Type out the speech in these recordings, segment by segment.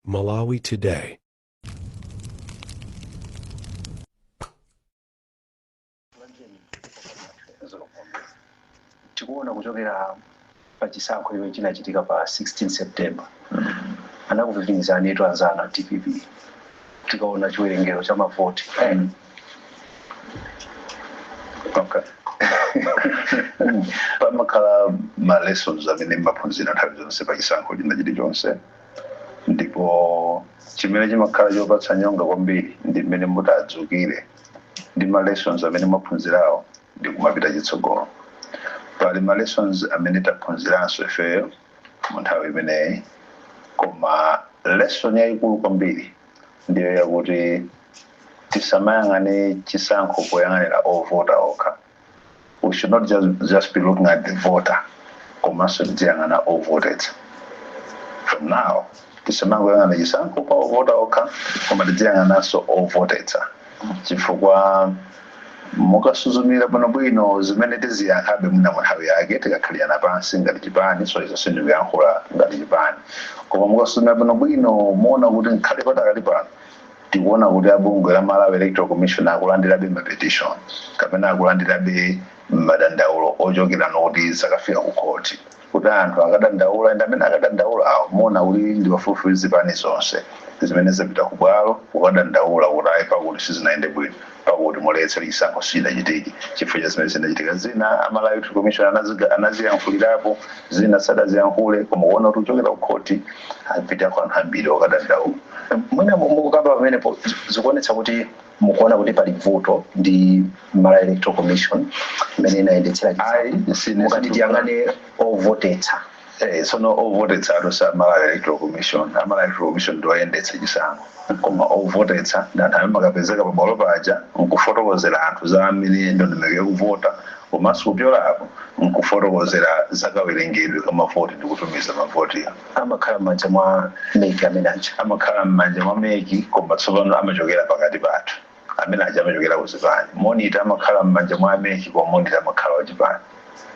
Malawi Today. tikuona kuchokera pa chisankho chimene chinachitika pa 16 september anakupitirirani ndithu anzana dpp tikaona chiwerengero cha mavoti Okay. pamakhala ma lessons amene mumaphunzira nthawi zonse pa chisankho china chilichonse ndipo chimene chimakhala chopatsa nyonga kwambiri ndi mmene mutadzukire ndi ma lessons amene mwaphunzirawo ndi kumapita chitsogolo pali ma lessons amene taphunziranso ifeyo mu nthawi imeneyi koma lesson yayikulu kwambiri ndiyo yakuti tisamayang'ane chisankho poyang'anira ovota okha we should not just be looking at the voter komanso tidziyang'ana ovotetsa from now tisamangoyang'ana chisankho pa ovota okha koma tidziyang'ananso ovotetsa chifukwa mukasuzumira bwino bwino zimene tiziyankhabe mwina munthawi yake tikakhalirana pansi ngati chipani so izo sindikuyankhula ngati chipani koma mukasuzumira bwino bwino muona kuti ngakhale pakadali pano tikuona kuti abungwe la malawi electoral commission akulandirabe ma petition kapena akulandirabe madandaulo ochokera noti zakafika ku khoti kuti anthu akadandaula and amene akadandaulawo muona kuti ndi pafupifupi zipani zonse zimene zapita ku bwalo kukadandaula kuti ayi pakuti sizinayende bwino pakuti muletse chisankho sichidachitike chifukwa cha zimene zinachitika zina a Malawi Electoral Commission anaziyankhulirapo zina sadaziyankhule koma kuona kuti kuchokera ku khoti apitako anthu ambiri okadandaula mwina mukukamba pamenepo zikuonetsa kuti mukuona kuti pali vuto ndi malawi electoral commission imene inayendetsera ayi sine mukati tiyang'ane ovotetsa Eh, tsono ovotetsa asati a malawi electoral commission a malawi electoral commission ndi oyendetsa chisankho koma ovotetsa ndi anthu amene amakapezeka pa bwalo paja nkufotokozera anthu za mmene ndondomeko yakuvota komanso kupyola apo nkufotokozera za kawerengedwe ka mavoti ndi kutumiza mavoti amakhala m'manja mwa Mec amene aja. amakhala m'manja mwa Mec koma tsopano amachokera pakati pathu. Amene aja amachokera ku zipani. Monitor amakhala m'manja mwa Mec koma monitor amakhala wa chipani.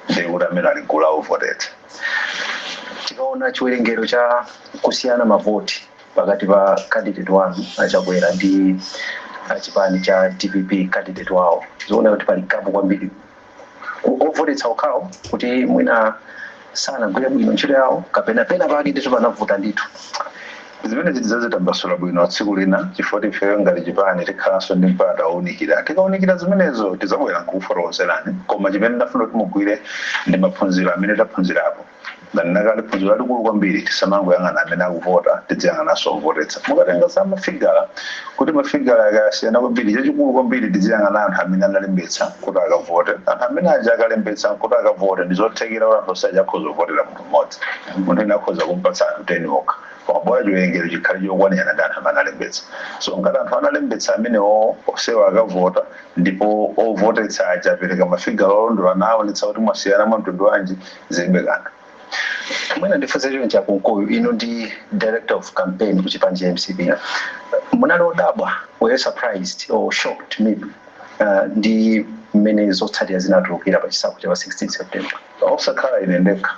Ndiye kuti amene ali m'gulu la ovotetsa. Tikaona chiwerengero cha kusiyana mavoti pakati pa candidate wanu a Chakwera ndi a chipani cha dpp candidate wawo, zikuoneka kuti pali gap kwambiri. ovotetsa okhawo kuti mwina sanagwire bwino ntchito yawo kapena pena pake ndithu panavuta ndithu zimenezi tidzazitambasula bwino tsiku lina chifukwa ifeyo ngati chipani tikhalanso ndi mpata wounikira tikaunikira zimenezo tidzabwera nkukufotokozerani koma chimene ndafuna kuti mugwire ndi maphunziro amene taphunzirapo ndanena kale phunziro lalikulu kwambiri tisamangoyang'ana amene akuvota tidziyang'ananso ovotetsa mukatenga za mafigala kuti mafigala akasiyana kwambiri chachikulu kwambiri tidziyang'ana anthu amene analembetsa kuti akavote anthu amene aja akalembetsa kuti akavote ndizothekera kuti anthu onse aja akhoza kuvotera munthu mmodzi munthu wina akhoza kumpatsa anthu 10 okha koma bola chiwerengero chikhale chokwanirana ndi anthu amene analembetsa so ngati anthu analembetsa amenewo onsewo akavota ndipo ovotetsa aja apereka mafigala olondola kaya ndithu kuti mwasiyana mwa mtundu wanji zilibe kanthu mwina ndifunse chonchi a Kunkuyu inu ndi director of campaign ku chipani cha MCP munali odabwa were you surprised or shocked maybe uh, ndi mmene zotsatira zinatulukira pa chisankho cha pa 16 september osakhala ine ndekha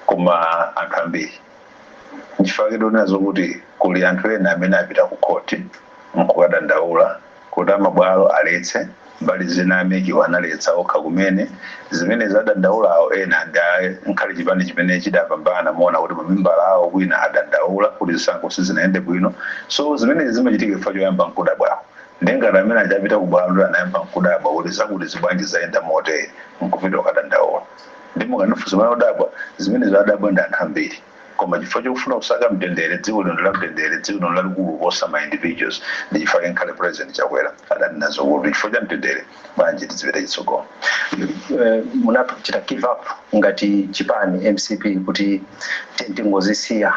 koma anthu ambiri nchifukwa chake ndikunenazo kuti kuli anthu ena amene apita ku khoti nkukadandaula kuti amabwalo aletse, mbali zina a MEC-wo analetsa okha kumene, zimenezi adandaulawo ena ndi ankhale chipani chimene chidapambana muona kuti mamembala awo kwina adandaula kuti zisankho sizinayende bwino so zimenezi zimachitika chifukwa choyamba nkudabwako nde ngati amene aja apita ku bwalo ndiye anayamba nkudabwa kuti zakutizi bwanji zayenda motere nkupita kukadandaula nde mukandifunsa pamene ndadabwa zimenezo adadabwa ndi anthu ambiri. Koma chifukwa chofuna kusaka mtendere, dziko lino ndi la mtendere, dziko lino lalikulu kuposa ma individuals ndi chifukwa chake nkhale president Chakwera adanena zokuti chifukwa cha mtendere bwanji tizipita chitsogolo. Munachita give up ngati chipani MCP kuti tiyeni tingozisiya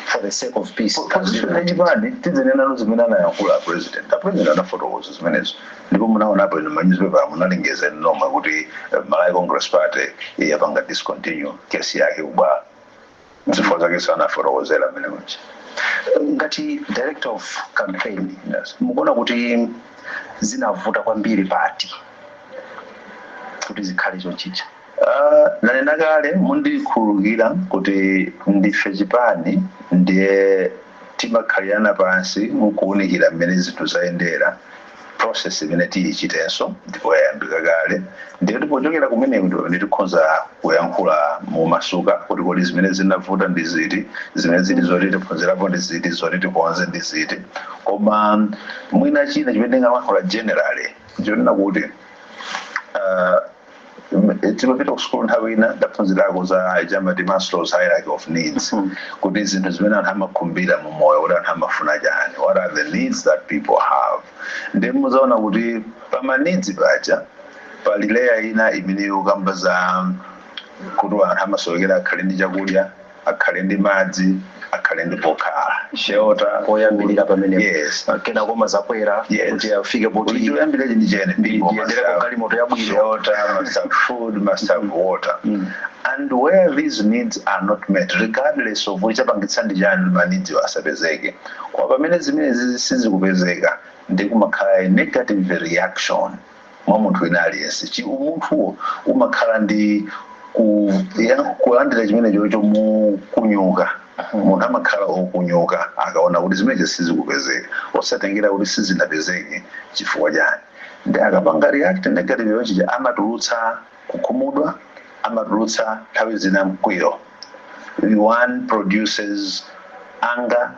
for the sake of peace. Position ya chipani tidzinenano zimene anayankhula a president. A president anafotokoza zimenezo. Ndipo munaonapo inu mma newspaper munalengeza inu nomwe kuti Malawi Congress Party yapanga discontinue case yake ku bwalo. Zifukwa zakenso anafotokozera mmenemo. Ngati director of campaign mukuona kuti zinavuta kwambiri pati kuti zikhale chonchija? Aaa ndanena kale mundikhululukira kuti ndife chipani ndiye timakhalirana pansi nkuunikira mmene zinthu zayendera process imene tiyichitenso ndipo yayambika kale ndiye kuti pochokera kumeneko ndi pamene tikhonza kuyankhula momasuka kuti kodi zimene zinavuta ndi ziti zimene zili zoti tiphunzirapo ndi ziti zoti tikonze ndi ziti koma mwina china chimene ndingalankhula generally ndichonena kuti uh, timapita ku sukulu nthawi ina ndaphunzirako za ija amati Maslow's hierarchy of needs Mm. kuti zinthu zimene anthu amakhumbira mu moyo kuti anthu amafuna chani what are the needs that people have ndiye muzaona kuti pama needs paja pali layer ina imene yokamba za kuti anthu amasowekera akhale ndi chakudya akhale ndi madzi, akhale ndi pokhala, shelter, oyambirira pamenepo. Yes. Kenako umadzakwera Yes. kuti afike poti Kuti choyambira cheni cheni ndi ndipo ndiyendere ku masafu. galimoto yabwino. Shelter, must have food, must have water. And where these needs are not met, regardless of which apangitsa ndi chani ma needs asapezeke. Koma pamene zimenezi sizikupezeka ndi kumakhala a negative reaction mwa munthu wina aliyense chi umunthuwo umakhala ndi ku, ya, kulandira chimenechocho mukunyuka munthu amakhala okunyuka akaona kuti zimenezo sizikupezeka osatengera kuti sizinapezeke chifukwa chani ndi akapanga react negatively nchi amatulutsa kukhumudwa amatulutsa nthawi zina mkwiyo one produces anger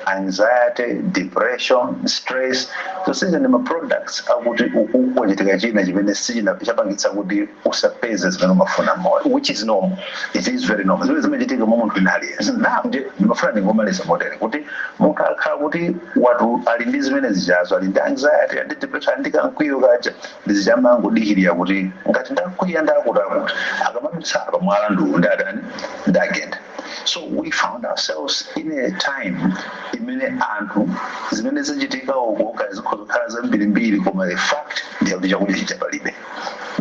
anxiety depression stress zonsezi ndi ma products akuti uku kwachitika china chimene sichina chapangitsa kuti usapeze zimene umafuna moyo which is normal it is very normal zimene zimachitika mwa munthu wina aliyense now ndi ndimafuna ndingomaliza motere kuti munthu akhala kuti watu ali ndi zimene zichazo ali ndi anxiety ali ndi depression ali ndi kamkwiyo kaja ndiye zija amangodikirira kuti ngati ndakwiya ndakutikuti akamadutsa apa mwala ndiwu ndadani ndagenda so we found ourselves in a time imene anthu zimene zachitika uko kaya zikhoza kukhala zambirimbiri koma the fact ndi yakuti chakudya chija palibe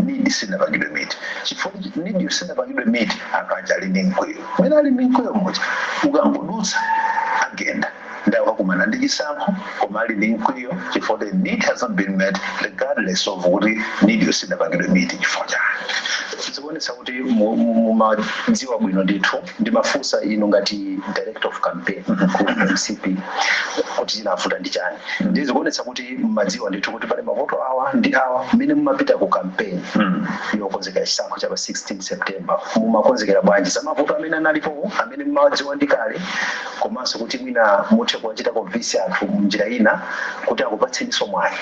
need sinapangidwe meet chifukwa chi- need yo sinapangidwe meet anthu aja ali ndi mkwiyo mmene ali ndi mkwiyo muja ukangodutsa agenda nde akukumana ndi chisankho koma ali ndi mkwiyo chifukwa the need hasn't been met regardless of kuti need yo sidapangidwe meet chifukwa chani zikuonetsa kuti mu- mu- mumadziwa bwino ndithu ndimafunsa inu ngati director of campaign ku mcp kuti chinavuta ndi chani ndi zikuonetsa kuti mumadziwa ndithu kuti pali mavuto awa ndi awa mmene mumapita ku campaign yokonzekera chisankho cha pa 16 september mumakonzekera bwanji za mavuto amene analipowo amene mumawadziwa ndi kale komanso kuti mwina muthe kuwachita convince anthu munjira ina kuti akupatseniso mwayi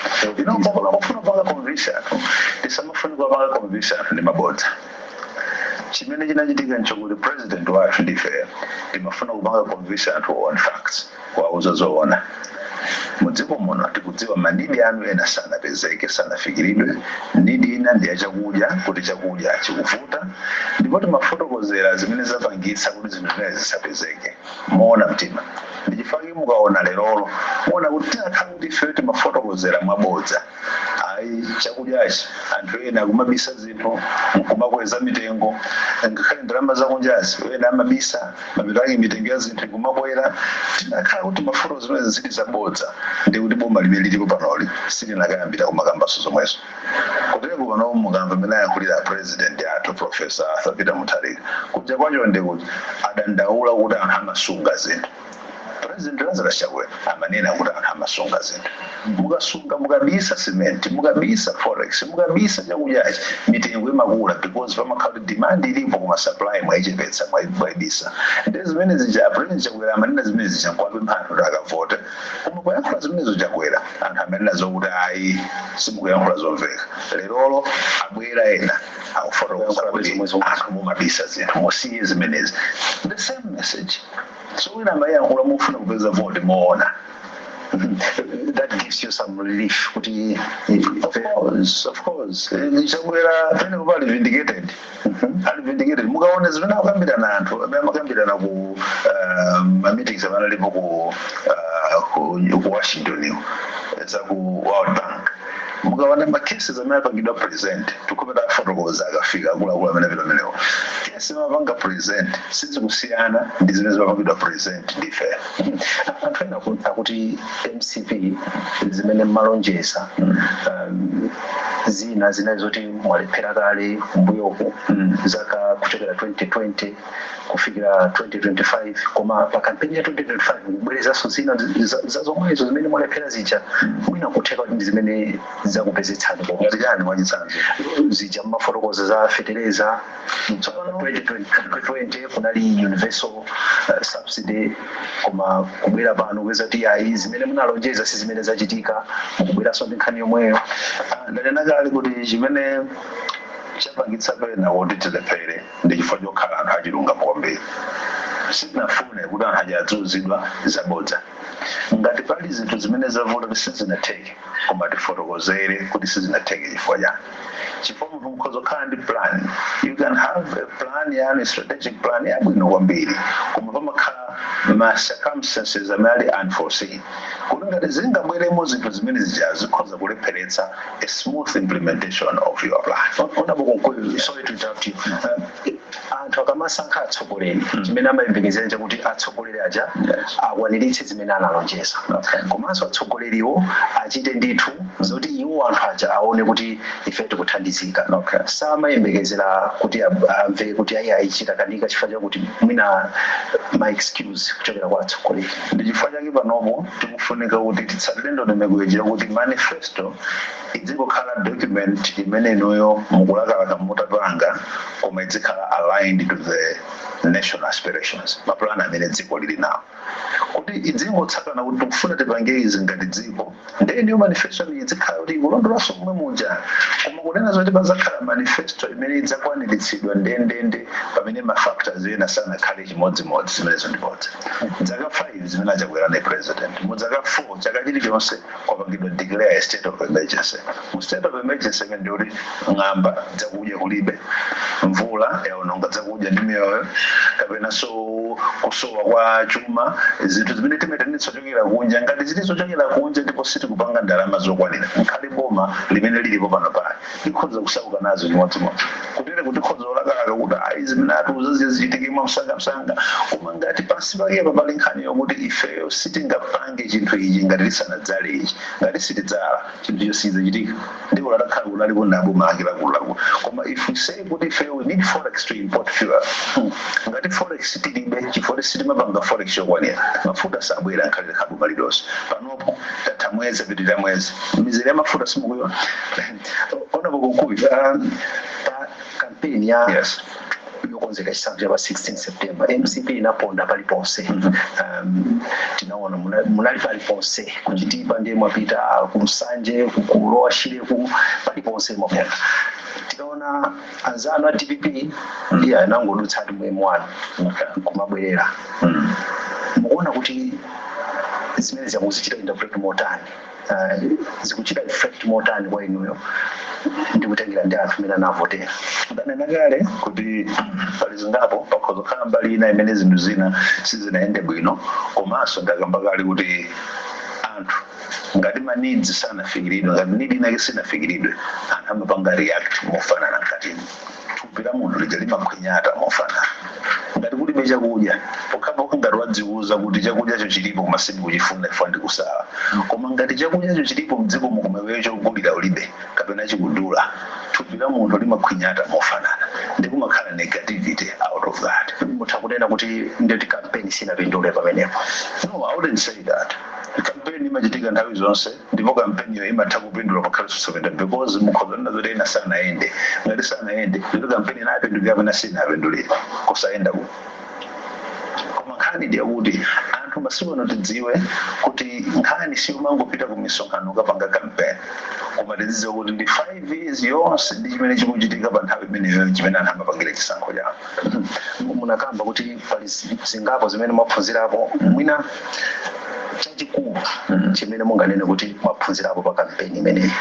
pofuna kupanga convince anthu sitimafuna kupanga convince anthu ndi mabodza chimene chinachitika nchokuti president wathu ndife timafuna kupanga convince anthu on facts kuwauza zoona Mudziko muno tikudziwa ma need anu ena sanapezeke, sanafikiridwe, need ina ndi ya chakudya kuti chakudya chikuvuta ndipo timafotokozera zimene zapangitsa kuti zinthu zimenezi zisapezeke moona mtima ndi chifukwa chake mukaona lerolo muona kuti tinakakhala kuti ifeyo timafotokozera mwabodza. ayi chakudyachi anthu ena akumabisa zinthu nkumakweza mitengo ngakhale ndalama zakunjazi ena amabisa mapeto ake mitengo ya zinthu ikumakwera tinakhala kuti mafuta zimenezi zili zabodza ndi kuti boma limene lilipo panoli silinakayambira kumakambaso zomwezo kuteroko pano mukamva amene ayankhulira president athu profesa arthur peter mutharika kunja kwacha ndi kuti adandaula kuti anthu amasunga zinthu President Lazarus Chakwera amanena kuti anthu amasunga zinthu. Mukasunga mukabisa cement, mukabisa forex, mukabisa chakudyachi, mitengo imakula because pamakhala kuti demand ilipo koma supply mwaichepetsa mwai- mwaibisa. Nde zimene zija a President Chakwera amanena zimene zija nkuwapempha anthu kuti akavote. Koma poyankhula zimenezo Chakwera anthu amanena zokuti ayi simukuyankhula zomveka. Lerolo abwera ena akufotokoza kuti anthu mumabisa zinthu musiye zimenezi. The same message. so wina amayankhula mofuna kupeza vote moona that gives you some relief kuti of course of course eh, Chakwera penepake pa ali vindicated Mhm. ali vindicated mukaona zimene akukambirana anthu amene amakambirana ku ah, ma meetings amene alipo ku ah, ku ku washington iko za ku world bank mukaona ma cases amene apangidwa present atakapita afotokoza akafika akuluakulu amene apita amenewo case zomapanga present sizikusiyana ndi zimene zimapangidwa present ndi ife anthu ena ku- akuti mcp zimene mmalonjeza um, zina zinali zoti mwalephera kale mbuyoku zaka kuchokera 2020 kufikira 2025 koma pa kampeni ya 2025 mukubwerezanso zina za- za zomwezo zimene mwalephera zija mwina kutheka kuti ndi zimene zakupezetsani ngati pomwepa chani mwachitsanzo zija mmafotokoza za fetereza Tsopano- 2020 kunali universal uh, subsidy koma kubwera pano kupeza kuti ayi zimene munalonjeza si zimene zachitika mukubweranso ndi nkhani yomweyo Ah, ndanena kale kuti chimene chapangitsa pena kuti tilephere Ndi chifukwa chokhala anthu achilungamo kwambiri, sitinafune kuti anthu aja aziuzidwa zabodza. Ngati pali zinthu zimene zavuta kuti sizinatheke, koma tifotokozere kuti sizinatheke chifukwa chani. Chifukwa munthu mukhoza kukhala ndi plan, you can have a plan yanu, strategic plan yabwino kwambiri, koma pamakhala ma circumstances amene ali unforeseen, kuti ngati zingabweremo zinthu zimene zija zikhoza kulepheretsa. a smooth implementation of your plan. Honorable Kunkuyu, sorry to interrupt you. Uh, anthu akamasankha atsogoleri chimene amayembekezera chakuti atsogoleri aja akwaniritse zimene analonjeza komanso atsogoleriwo achite ndithu zoti iwo anthu aja aone kuti ife tikuthandizika samayembekezera kuti ab- amve kuti ayi ayi zitakanika chifukwa chakuti mwina ma excuse kuchokera kwa atsogoleri ndi chifukwa chake panopo tikufunika kuti titsatire ndondomeko ija yokuti manifesto idzingokhala document imene inuyo mukulakalaka mutapanga koma idzikhala aligned to the national aspirations, ma plan amene dziko lili nawo. Kuti idzingotsatana kuti tikufuna tipange izi ngati dziko, ndiye inuyo manifesto yanu idzikhala kuti ikulondolanso momwe muja. Koma kunena zoti padzakhala manifesto imene idzakwaniritsidwa ndendende pamene ma factors ena sanakhale chimodzimodzi zimenezo ndi bodza dzaka 5 zimene achakwera anali president mu dzaka 4 chaka chilichonse kwapangidwa declare a state of emergency mu state of emergency imene ndi kuti ng'amba dzakudya kulibe mvula yaononga dzakudya ndi miyoyo kapenanso kusowa kwa chuma zinthu zimene timaitanitsa zochokera kunja ngati zili zochokera kunja ndipo sitikupanga ndalama zokwanira nkhale boma limene lilipo panopali likhoza kusauka nazo chimodzimodzi kutereku tikhoza kulakalaka kuti ayi zimene atiuza zija zichitike mwamsangamsanga koma ngati pansi pakepa pali nkhani yokuti ifeyo sitingapange chinthu ichi ngati tisanadzale ichi ngati sitidzala chinthucho sichidzachitika ndipo olo atakhala kuti alipo ndi aboma ake akuluakulu koma if we say kuti ifeyo we need forex to import fuel hmm, ngati forex tilibe chifukwa kuti sitimapanga forex yokwanira mafuta sabwera nkhale likhale boma lilonse pano tatha mwezi kupitirira mwezi mizere ya mafuta simukuiona honourable kunkuyu um, pa kampeni ya yes yokonzekera chisankho cha pa 16 september mcp inaponda paliponse um, tinaona muna- munali paliponse ku chitipa ndiye mwapita ku nsanje ku lower shire ku paliponse mwaponda tikaona anzanu a dpp ndiye anangodutsatu mu m1 nkumabwerera mm. mukuona kuti zimenezi mukuzichita interpret motani uh, zikuchita reflect motani kwa inuyo ndikutengera ndi anthu mmene anavotera ndanena kale kuti pali zingapo pakhoza kukhala mbali ina imene zinthu zina sizinayende bwino komanso ndakamba kale kuti anthu Ngati ma needs sanafikiridwe, ngati need inayake sinafikiridwe, anthu amapanga react mofanana mkatimu. Thupi la munthu lija limakhwinyata mofanana. Ngati kulibe chakudya, pokhapokha ngati wadziuza kuti chakudyacho chilipo koma sindikuchifuna chifukwa ndikusala. Koma ngati chakudyacho chilipo mdzikomo koma iweyo chogulira ulibe kapena chikudula, thupi la munthu limakhwinyata mofanana. Nde kumakhala negativity out of that. Mutha kunena kuti nde campaign sinapindule pamenepo. No, I wouldn't say that. kampeni imachitika nthawi zonse ndipo kampeniyo imatha kupindula ngakhale osayenda because mukhoza nena zoti ena sanayende ngati sanayende kuti kampeni inapindulira kapena sinapindulira kusayendako koma nkhani ndi yakuti anthu masiku ano tidziwe kuti nkhani siyomangopita ku misonkhano kukapanga kampeni koma tidzidziwa kuti ndi 5 years yonse ndi chimene chikuchitika pa nthawi imeneyo chimene anthu amapangira chisankho chawo munakamba kuti Pali zingapo zimene mwaphunzirapo, mwina chachikulu chimene munganene kuti mwaphunzirapo pa kampeni imeneyi?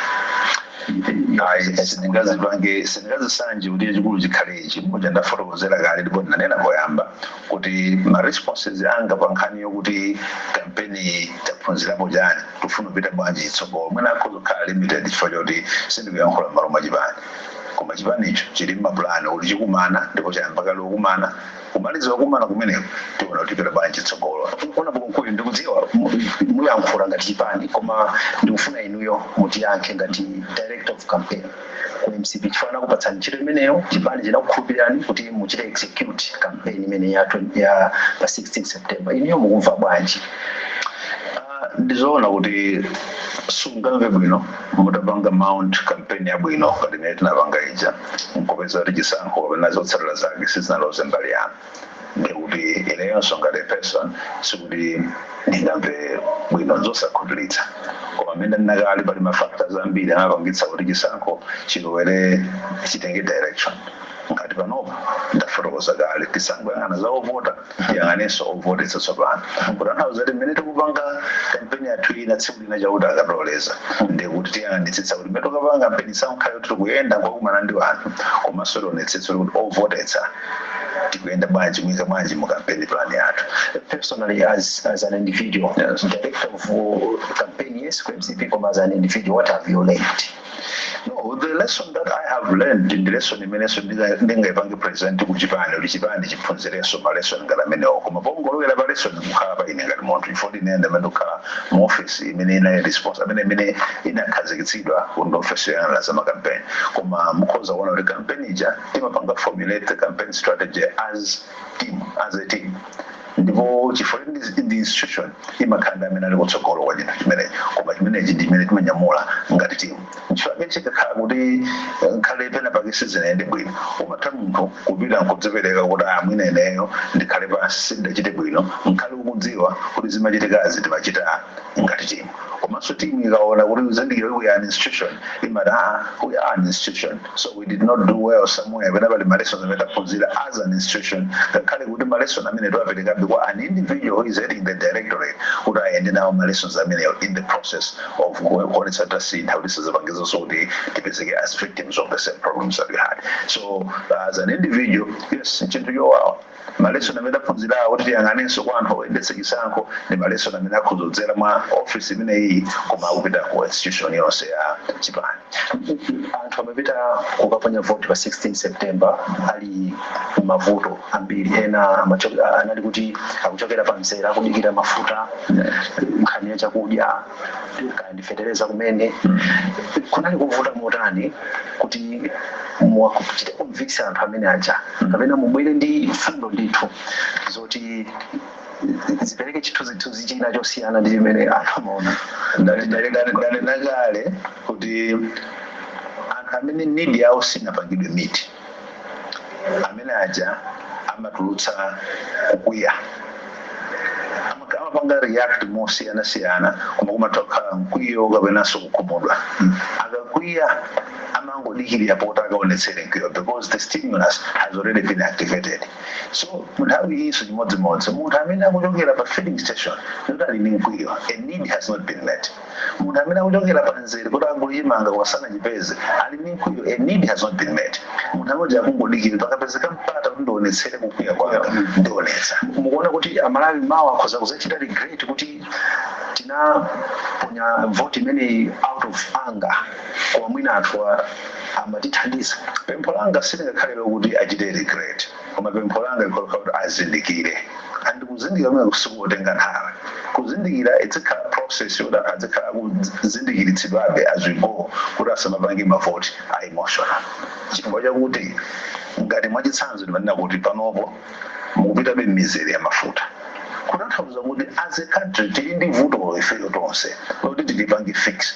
Sindingazipange, sindingazisanje kuti chachikulu chikhale ichi. Muja ndafotokozera kale ndipo ndinanena poyamba kuti ma responses anga pa nkhani yokuti kampeni taphunzirapo chani, tikufuna kupita bwanji chitsogolo, mwina akhoza kukhala limited chifukwa choti sindikuyankhula m'malo mwa chipani. Koma chipanicho chili mmapulani oti chikumana ndipo chayamba kale kukumana, kumaliza kukumana kumeneko tiona kuti tipita bwanji chitsogolo. Bwana Kunkuyu ndikudziwa muyankhula ngati chipani koma ndikufuna inuyo mutiyankhe ngati director of campaign ku mcp chifukwa anakupatsani ntchito imeneyo, chipani chinakukhulupirirani kuti muchite execute campaign imeneyi ya pa 16 September. Inuyo mukumva bwanji? Ndizoona kuti sungamve bwino. mutapanga mount campaign yabwino ngati imene tinapanga ija nkupeza kuti chisankho kapena zotsatira zake sizinaloze mbali yanu ndiye kuti ineyonso ngati a person sikuti ndingamve bwino zosakhutiritsa koma mmene ndanena kale pali ma factors ambiri amapangitsa kuti chisankho chilowere chitenge direction ngati panopa ndafotokoza kale tisangoyang'ana za ovota tiyang'anenso ovotetsa tsopano kutanthauza kuti mmene tikupanga kampeni yathu ina tsiku lina chauta akatiloleza ndiye kuti tiyang'anitsitsa kuti mmene tikapanga kampeni sangokhala kuti tikuyenda nkukumana ndi wanthu komanso tionetsetse kuti ovotetsa tikuyenda bwanji muika bwanji mu campaign plan yathu personally as as an individual as director of uh, campaign yes ku mcp koma as an individual what have you learned No, the lesson that I have learned ndi lesson imenenso ndinga- ndingaipange present ku chipani kuti chipani chiphunzirenso ma lesson ngati amenewo koma pongolowera pa lesson mukhala pa ine ngati munthu chifukwa ine ndi amene ndimakhala mu office imene inali response amene imene inakhazikitsidwa ku ndi office yoyang'anira za makampeni koma mukhoza kuona kuti kampeni ija timapanga formulate the campaign strategy as team as a team Ndipo chifukwa ndi institution, imakhala ndi amene ali kutsogolo kwa chinthu chimenecho. Koma chimenechi ndi chimene timanyamula ngati team. Chifukwa chikakhala kuti ngakhale penapake sizinayende bwino, umatha munthu kupita nkudzipereka kuti ah mwina ineyo ndikhale pansi sindinachite bwino, ngakhale ukudziwa kuti zimachitikazi timachita ngati team. Komanso team ikaona kuti, kuzindikira kuti we are an institution, imati ah ah we are an institution. so we did not do well somewhere pena pali malesson amene taphunzira as an institution ngakhale kuti malesson amene tiwaperekabe kwa an individual who is heading the directorate kuti ayende nawo malessons amenewo in the process of ku- kuonetsa kuti tasintha kuti sizipangikenso kuti tipezeke as victims of the same problems that we had so as an individual yes chinthu chowawa Malesson amene taphunzirawo kuti tiyang'anenso kwa anthu oyendetsa chisankho ndi malesson amene akhoza kudzera mwa office imeneyi koma akupita ku institution yonse ya chipani. Anthu amapita kukaponya vote pa 16 September ali m'mavuto ambiri, ena amacho- a- anali kuti akuchokera pa mzera akudikira mafuta, nkhani ya chakudya, kaya ndi fetereza kumene kunali kuvuta motani kuti muwachite convince anthu amene aja kapena mubwere ndi mfundo ndithu zoti zipereke chithunzithunzi china chosiyana ndi chimene anthu amaona ndanenakale kuti anthu amene need yawo sinapangidwe meet amene aja amatulutsa kukwiya Amaka- amapanga react mosiyanasiyana koma kumathakukhala mkwiyo kapenanso kukhumudwa akakwiya amangodikirira poti akaonetsere mkwiyo because the stimulus has already been activated so munthawi iyinso chimodzimodzi munthu amene akuchokera pa filling station kuti ali ndi mkwiyo a need has not been met Munthu amene akuchokera pa nzere kuti agule chimanga koma sanachipeze, ali ndi mkwiyo, a need has not been met. Munthu amene uja akungodikirira, pakapezeka mpata kuti ndiwonetsere kukwiya kwanga, ndionetsa. Mukuona kuti a Malawi mawa akhoza kudzachita regret kuti tinaponya vote imeneyi out of anger, koma mwina anthuwa amatithandiza. Pempho langa silingakhale lokuti achite regret. koma pempho langa likhoza kukhala kuti azindikire and kuzindikira kumene sikuti kutenga nthawi kuzindikira izikhala process yoti anthu azikhala akuzindikiritsidwabe as we go kuti asamapange mavoti a emotional chifukwa chakuti ngati mwachitsanzo ndimanena kuti panopo mukupitabe m'mizere ya mafuta kutanthauza kuti as a country tili ndi vuto ifeyo tonse loti tilipange fix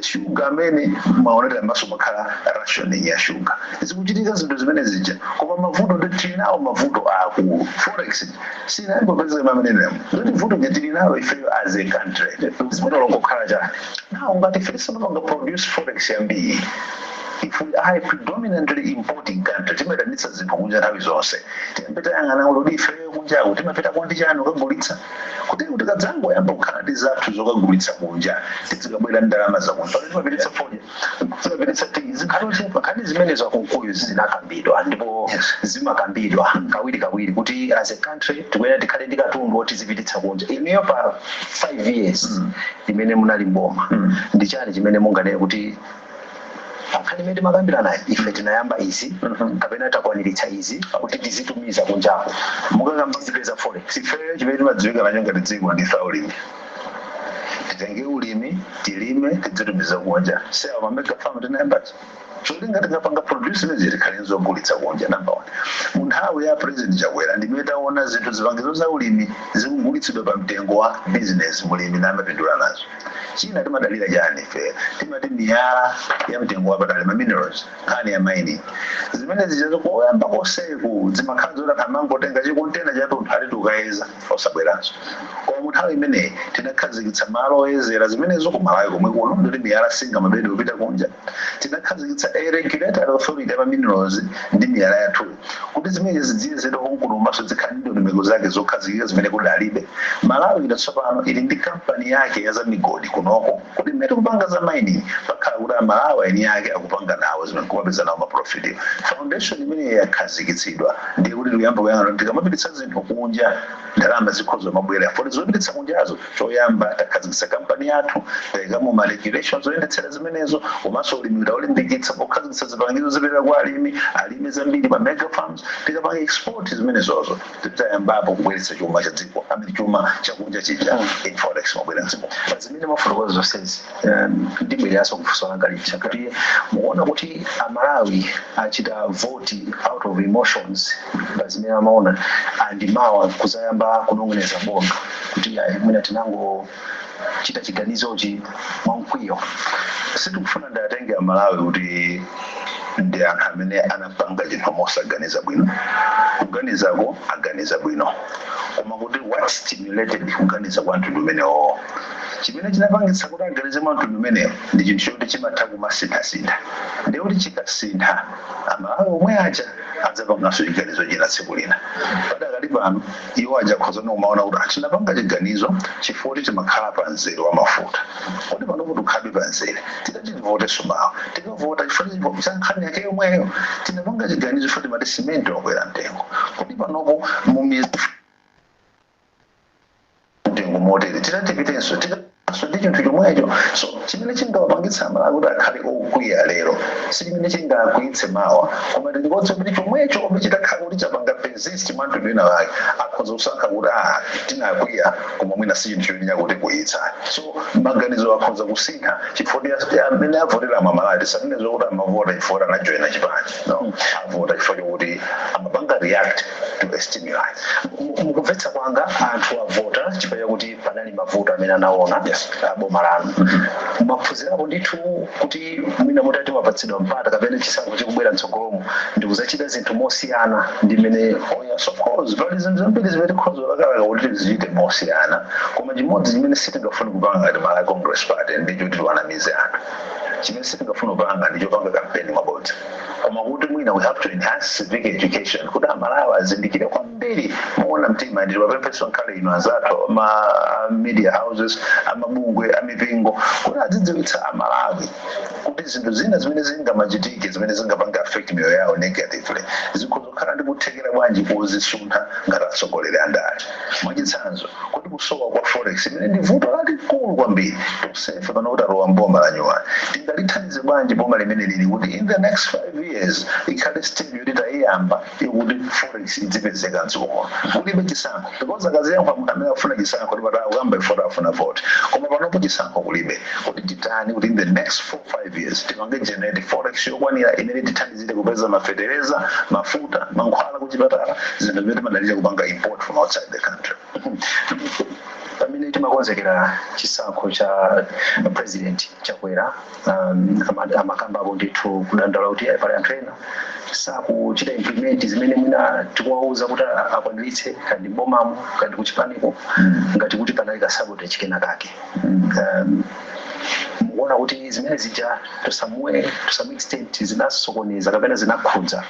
shuga amene mumaonera m'maso mumakhala rationing ya shuga zikuchitika zinthu zimene zija koma mavuto ndi tili nawo mavuto aakulu forex sinayambe kupezeka mamenenemo ndoti vuto nje tili nalo ifeyo as a country vuto longokhala chani nawo ngati ife sitimapanga produce forex yambiri if we are a predominantly importing country timaitanitsa zinthu kunja nthawi zonse timapita yang'ana ulodi ifeyo kunjaku timapitako ndi chani kukagulitsa kuti tikadzangoyamba kukhala ndi zathu zokagulitsa kunja tizikabwera ndi ndalama zakunja pamene timapititsa fodya timapititsa tiyi zikukhala zochepa nkhani zimenezo a Kunkuyu zinakambidwa ndipo zimakambidwa kawirikawiri kuti as a country tikuyenera tikhale ndi katundu woti tizipititsa kunja inuyo pa 5 years imene munali m'boma ndi chani chimene munganene kuti pankhani imene timakambiranayi ife tinayamba izi kapena takwaniritsa izi kuti tizitumiza kunjako mukakamba zopeza forex ifeyo chimene timadziwika nacho ngati dziko ndife aulimi titenge ulimi tilime tidzitumiza kunja si awo ma mega farm tinayamba aja cholinga tikapanga produce imeneyo zikhale nzogulitsa kunja number one mu nthawi ya president chakwera ndimene taona zinthu zipangizo za ulimi zikugulitsidwa pa mtengo wa business mulimi namapindula nazo china timadalira chani ife timati miyala ya mtengo wapatali ma minerals nkhani ya mining zimene zija zo koyamba konseko zimakhala zoti anthu amangotenga chikontena chatunthu ati tikukayeza osabweranso koma mu nthawi imeneyi tinakhazikitsa malo oyezera zimenezo ku malawi komwe kuno ndikuti miyala singamabedwe kupita kunja Tinakhazikitsa Regulatory Authority ya ma Minerals ndi Miyala yathu kuti zimenezi zidziyezedwa konkuno komanso zikhale ndi ndondomeko zake zokhazikika zimene kunalibe, Malawi ino tsopano ili ndi kampani yake ya za migodi kunoko kuti mmene tikupanga za mining pakhale kuti a Malawi eni ake akupanga nawo zimene nkumapeza nawo ma profit. Foundation imeneyi ikakhazikitsidwa ndiye kuti tikuyamba kuyang'ana kuti tikamapititsa zinthu kunja ndalama zikhoza kumabwera poti zopititsa kunjazo Choyamba takhazikitsa kampani yathu, taikamo ma regulations oyendetsera zimenezo komanso ulimi taulimbikitsa pokhazikitsa zipangizo zopereka kwa alimi, alime zambiri pa mega farms, tikapanga export zimenezozo ndiye kuti tayambapo kubweretsa chuma cha dziko, I mean chuma chakunja chija in forex chibwere mdziko. Pazimene mwafotokoza zonsezi, um, ndibwereranso kufunso langa lija kuti mukuona kuti amalawi achita voti out of emotions pa zimene amaona and mawa kuzayamba kunong'oneza bondo kuti ayi mwina tinangochita chiganizochi mwamkwiyo sindikufuna ndiwatenge amalawi kuti ndi anthu amene anapanga chinthu mosaganiza bwino kuganizako aganiza bwino koma kuti what stimulated kuganiza kwa mtundu umenewo Chimene chinapangitsa kuti aganize mwa mtundu umenewo ndi chinthu choti chimatha kumasinthasintha ndiye kuti chikasintha, Amalawi omwe aja adzapanganso chiganizo china tsiku lina. Padakali pano, iwo aja akhoza kumaona kuti ah, tinapanga chiganizo chifukwa choti timakhala pa mzere wa mafuta. Kodi panopo tikhalabe pa mzere? Titati tivotenso mawa, tikavota chifukwa cha nkhani yake yomweyo? Tinapanga chiganizo chifukwa timati simenti wakwera mtengo. Kodi panopo mu miyezi. mtengo motere titatipitenso nkhaninso ndi chinthu chomwecho so chimene chinawapangitsa amalawi kuti akhale okwiya lero si chimene chingawakwiyitse mawa koma tilikonse kuti chomwechomwecho chitakhala kuti chapanga persist mwa mtundu wina wake akhoza kusankha kuti a tinakwiya koma mwina si chinthu choti chakutikwiyitsa so maganizo akhoza kusintha chifukwa mmene amavotera amalawi tisanene zokuti amavota chifukwa anajoyina chipani no amavota chifukwa chokuti amapanga react stimuli mukumvetsa kwanga anthu avota chifukwa chakuti panali mavuto amene anaona boma lanu mwaphunzirapo ndithu kuti mwina mutati mwapatsidwa mpata kapena chisankho chikubwera mtsogolomo ndikudzachita zinthu mosiyana ndi mmene Oh, yes, of course. Pali zinthu zambiri zimene tikhoza kulakalaka kuti tizichite mosiyana koma chimodzi chimene sitingafune kupanga ngati Malawi Congress Party ndicho tiwanamize anthu chimene sitingafune kupanga ndicho kupanga kampeni yabodza koma kuti mwina we have to enhance civic education kuti amalawi azindikire kwambiri moona mtima ndiye tiwapemphenso ngakhale inu anzathu a ma media houses amabungwe amipingo kuti azidziwitsa amalawi kuti zinthu zina zimene zingamachitike zimene zingapange affect miyoyo yawo negatively zikhoza kukhala ndi kuthekera kwanji kozisintha ngati atsogoleri andale mwachitsanzo kodi kusowa kwa forex imene ndi vuto lalikulu kwambiri tonsefe pano talowa mboma la nyuwani tingalithandize bwanji boma limeneli kuti in the next five years ikhale stage yoti tayiyamba yokuti forex idzipezeka mdziko muno kulibe chisankho because akaziyankha munthu amene afuna chisankho kuti pata akuyamba ifoti afuna voti koma panopo chisankho kulibe kodi titani kuti in the next four five years tipange generate forex yokwanira imene tithandize tizitha kupeza mafeteleza mafuta mankhwala kuchipatala zinthu zimene timadalira kupanga import from outside the country pamene timakonzekera chisankho a president Chakwera um, ama- amakambapo ndithu kudandaula kuti "Eh, pali anthu ena sakuchita implement zimene mwina tikuwauza kuti a- akwaniritse kaya ndi mbomamo kaya ndi kuchipaniko ngati kuti panali kasabotage kena kake um, mukuona kuti zimene zija to some way to some extent zinasokoneza kapena zinakhudza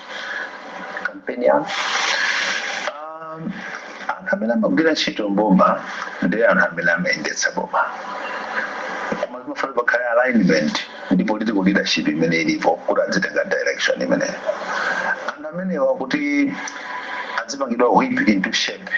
kampeni yanu um, anthu amene amagwira ntchito mboma ndiye anthu amene amayendetsa boma koma zimafuna pakhale alignment ndi political leadership imene ilipo kuti adzitenga direction imeneyo anthu amenewa kuti adzipangidwa whip into shape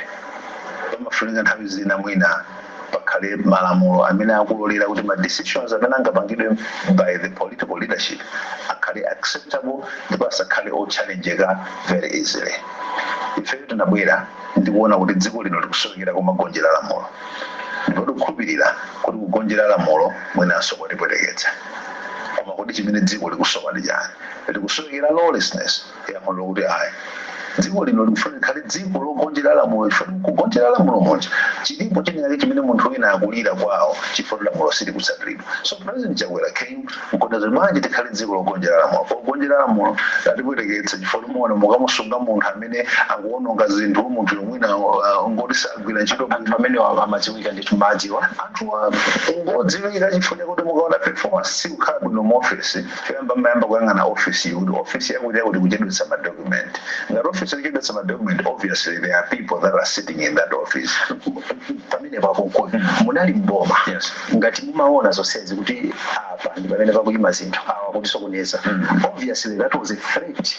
pamafunika nthawi zina mwina pakhale malamulo amene akulolera kuti ma decisions amene angapangidwe by the political leadership akhale acceptable ndipo asakhale otchallengeka very easily. Ifeyo tinabwera ndi kuona kuti dziko lino likusowekera kumagonjera lamulo ndipo tikukhulupirira kuti kugonjera lamulo mwinanso kwatipweteketsa. Koma kodi chimene dziko likusowa ndi chani? Likusowekera lawlessness. Yankho nlokuti ayi. Dziko lino likufunika likhale dziko logonjera lamulo chifukwa m'kugonjera lamulo muja chilipo chinachake chimene munthu wina akulira kwawo chifukwa kuti lamulo silikutsatiridwa. So President Chakwera came n'kunena zoti bwanji tikhale dziko logonjera lamulo. Kugonjera lamulo kwatipweteketsa chifukwa mumaona mukamusunga munthu amene akuononga zinthu, munthuyo mwina n'ngoti sagwira ntchito bwino. Anthu amenewa amadziwika, ndithu m'adziwa. Anthuwa n'ngodziwika chifukwa chakuti mukaona performance sikukhala bwino m'ofesi. Choyamba mmayamba kuyang'ana ofisiyo kuti office yakuti yakuti ikuchedwetsa ma document. Ngati office ikuchedwetsa ma document obviously there are people that are sitting in that office. Pamenepo a Kunkuyu munali m'boma ngati mumaona zonsezi kuti apa ndi pamene pakuyima zinthu awa akutisokoneza obviously that was a threat.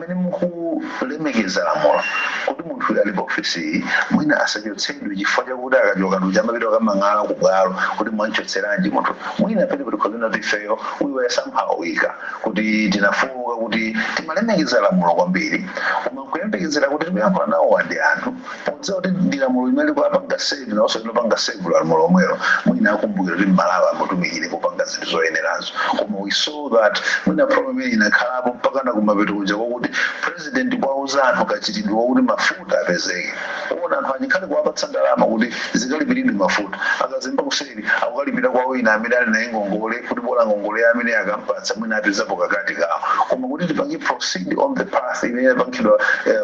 Pamene mukulemekeza lamulo kuti munthuyu ali pa ofesiyi mwina asachotsedwe chifukwa chakuti akachoka ndi uja amapita kukamang'ala ku bwalo kuti mwamchotseranji munthu, mwina penepo tikhoza kunena kuti ifeyo we were somehow weaker, kuti tinafooka kuti timalemekeza lamulo kwambiri koma nkuyembekezera kuti tikuyankhula nawowa ndi anthu. Podziwa kuti ndi lamulo limene likuwapanga serve nawonso likuwapanga serve lamulo lomwelo, mwina akumbukira kuti m'Malawi amutumikire popanga zinthu zoyenerazo. Koma we saw that mwina problem imene inakhalapo mpakana kumapeto kuja kwakuti President kuwauza anthu kachitidwe kokuti mafuta apezeke. Kuona anthu aja ngakhale kuwapatsa ndalama kuti zikalipiridwe mafuta. Akazemba kuseri akukalipira kwa wina amene ali naye ngongole kuti bola ngongole amene akampatsa mwina apezapo kakati kawo. Koma kuti tipange proceed on the path imene inapangidwa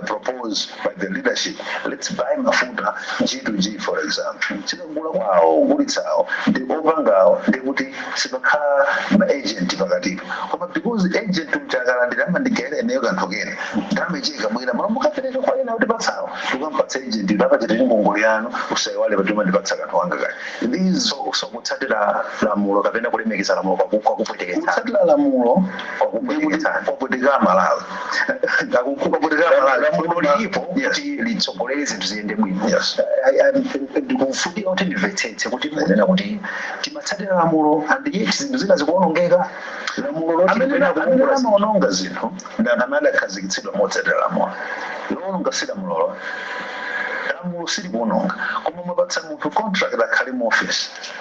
propose. by the leadership lets buy mafuta g2g for example tikagula kwa awo ogulitsawo ndi opangawo ndi kuti sipakhala ma agent pakatipo koma because agent uja akalandira amandigayira ineyo kanthu kena ndalama ichi ikabwera malo mukapereka kwa ena kutipatsa awo tikampatsa agent kuti apachitire ngongole yanu usaiwale kuti umandipatsa kanthu kanga kaya these so, so kutsatira lamulo kapena kulemekeza lamulo kwaku- kwakupweteketsani kutsatira lamulo ndikuti kwakupweteketsani kwapweteka amalawi Ndakukhumba kuti la- la- lamulo lilipo Yes. kuti litsogolere zinthu ziyende bwino Yes. I- I- ndikufunika kuti ndimvetsetse kuti munena kuti timatsatira lamulo and yet zinthu zina zikuonongeka lamulo loti amene limenena amene kuongola zinthu. amaononga zinthu ndi anthu amene adakhazikitsidwa motsatira lamulo loononga si lamulolo lamulo silikuononga koma mwapatsa munthu contract akhale mu office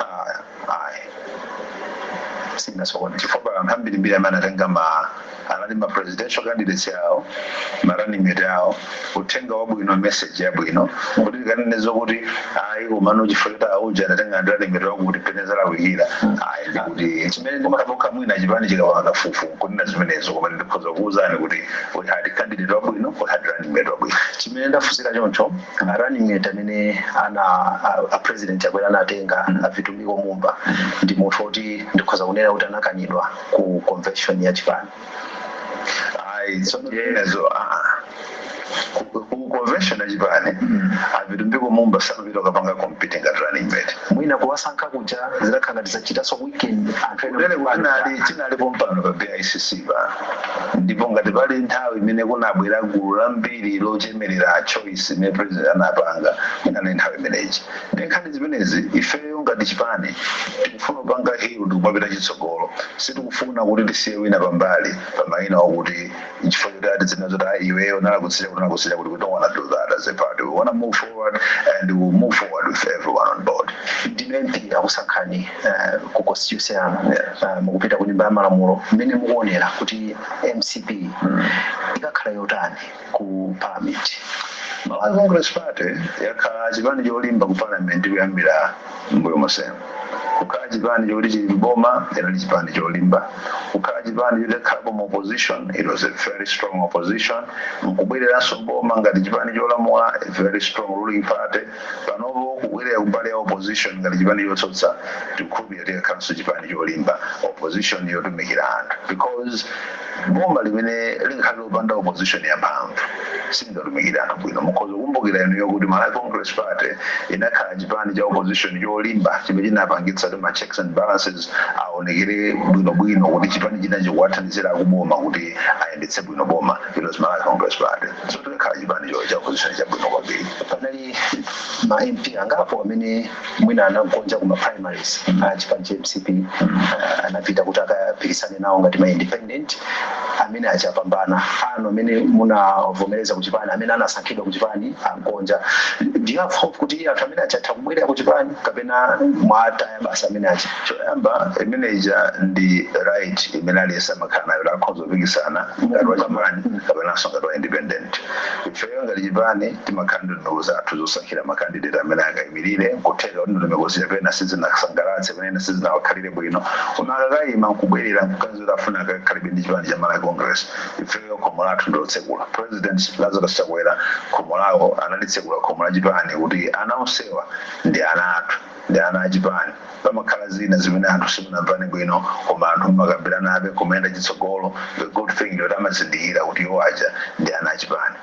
Ah, ayi sinasokoneza chifukwa pali anthu ambirimbiri amene anatenga ma anali ma presidential candidates awo ma running mate awo uthenga wabwino message yabwino kuti tikanene zokuti ayi komano chifukwa choti auja anatenga ndi running mate wakuti pena zalakwikira ayi ndikuti chimene ndimakhapokha mwina chipani chikapanga kafukufuku nkunena zimenezo koma ndikhoza kukuwuzani kuti we had candidate wabwino we had running mate wabwino chimene ndafunsira choncho running mate amene ana a, a president Chakwera anatenga a Vitumbiko Mumba ndi munthu woti ndikhoza kunena kuti anakanidwa ku convention ya chipani ayi Tsono- yenezo aa ku ku convention yachipani a Vitumbiko Mumba samapita kukapanga compete ngati running mate mwina kuwasankha kuja zidakhala ngati zachitanso weaken anthu ena kunene kuchipani kutinali chinalipo pompano pa BICC pano ndipo ngati pali nthawi imene kunabwera gulu lambiri lochemerera choice imene president anapanga inali nthawi imeneji ndi nkhani zimenezi ifeyo ngati chipani tikufuna kupanga heal ndikumapita chitsogolo sitikufuna kuti tisiye wina pambali pa mayina okuti chifukwa choti ati zina zoti ayi iweyo unalakutsira kuti unalakutsira kuti we don't want to do that as a party we want to move forward and we will move forward with everyone on board ndi MP akusankhani eh, ku constituency eh, mukupita ku nyumba ya malamulo mmene mukuonera kuti mcp ikakhala yotani ku parliament malawi congress party yakhala chipani cholimba ku parliament kuyambira mbuyo monsemu kukhala chipani choti chili mboma chinali chipani cholimba kukhala chipani choti chakhalapo mu opposition it was a very strong opposition nkubwereranso mboma ngati chipani cholamula a very strong ruling party panopo kubwerera kumbali ya opposition ngati chipani chotsutsa tikukhulupirira tikakhalanso chipani cholimba opposition yotumikira anthu because boma limene limakhala lopanda opposition yamphamvu silingatumikire anthu bwino mukhoza kukumbukira inuyo kuti malawi congress party inakhala chipani cha opposition cholimba chimene chinapangitsa kuti ma checks and balances aonekere bwinobwino kuti chipani chinachi kuwathandizira akuboma kuti ayendetse bwino boma it was malawi congress party so tikakhala chipani cha opposition chabwino kwambiri panali ma mp angapo amene mwina anagonja kuma primaries a chipani cha mcp ah, anapita kuti akapikisane nawo ngati ma independent amene aja apambana anu amene munavomereza kuchipani amene anasankhidwa kuchipani agonja do you have hope kuti anthu amene aja atha kubwerera kuchipani kapena mwataya basi amene aja choyamba imene ija ndi right imene aliyense amakhala nayo akhoza kupikisana ngati wa chipani kapenanso ngati wa independent. Ifeyo ngati chipani timakhala ndi ndondomeko zathu zosankhira ma candidate amene akaimilire. Nkutheka kuti ndondomeko zija pena sizinasangalatse, pena ena sizinawakhalire bwino koma akakaima nkubwerera nkuganiza kuti afuna akakhalebe ndi chipani cha Malawi Congress, ifeyo khomo lathu ndi lotsekula. President Lazarus Chakwera khomo lawo analitsekula khomo la chipani kuti ana onsewa ndi ana athu. ndi ana achipani pamakhala zina zimene anthu simunamvane bwino koma anthu mumakambiranabe kumayenda chitsogolo the good thing yoti amazindikira kuti iwo aja ndi ana achipani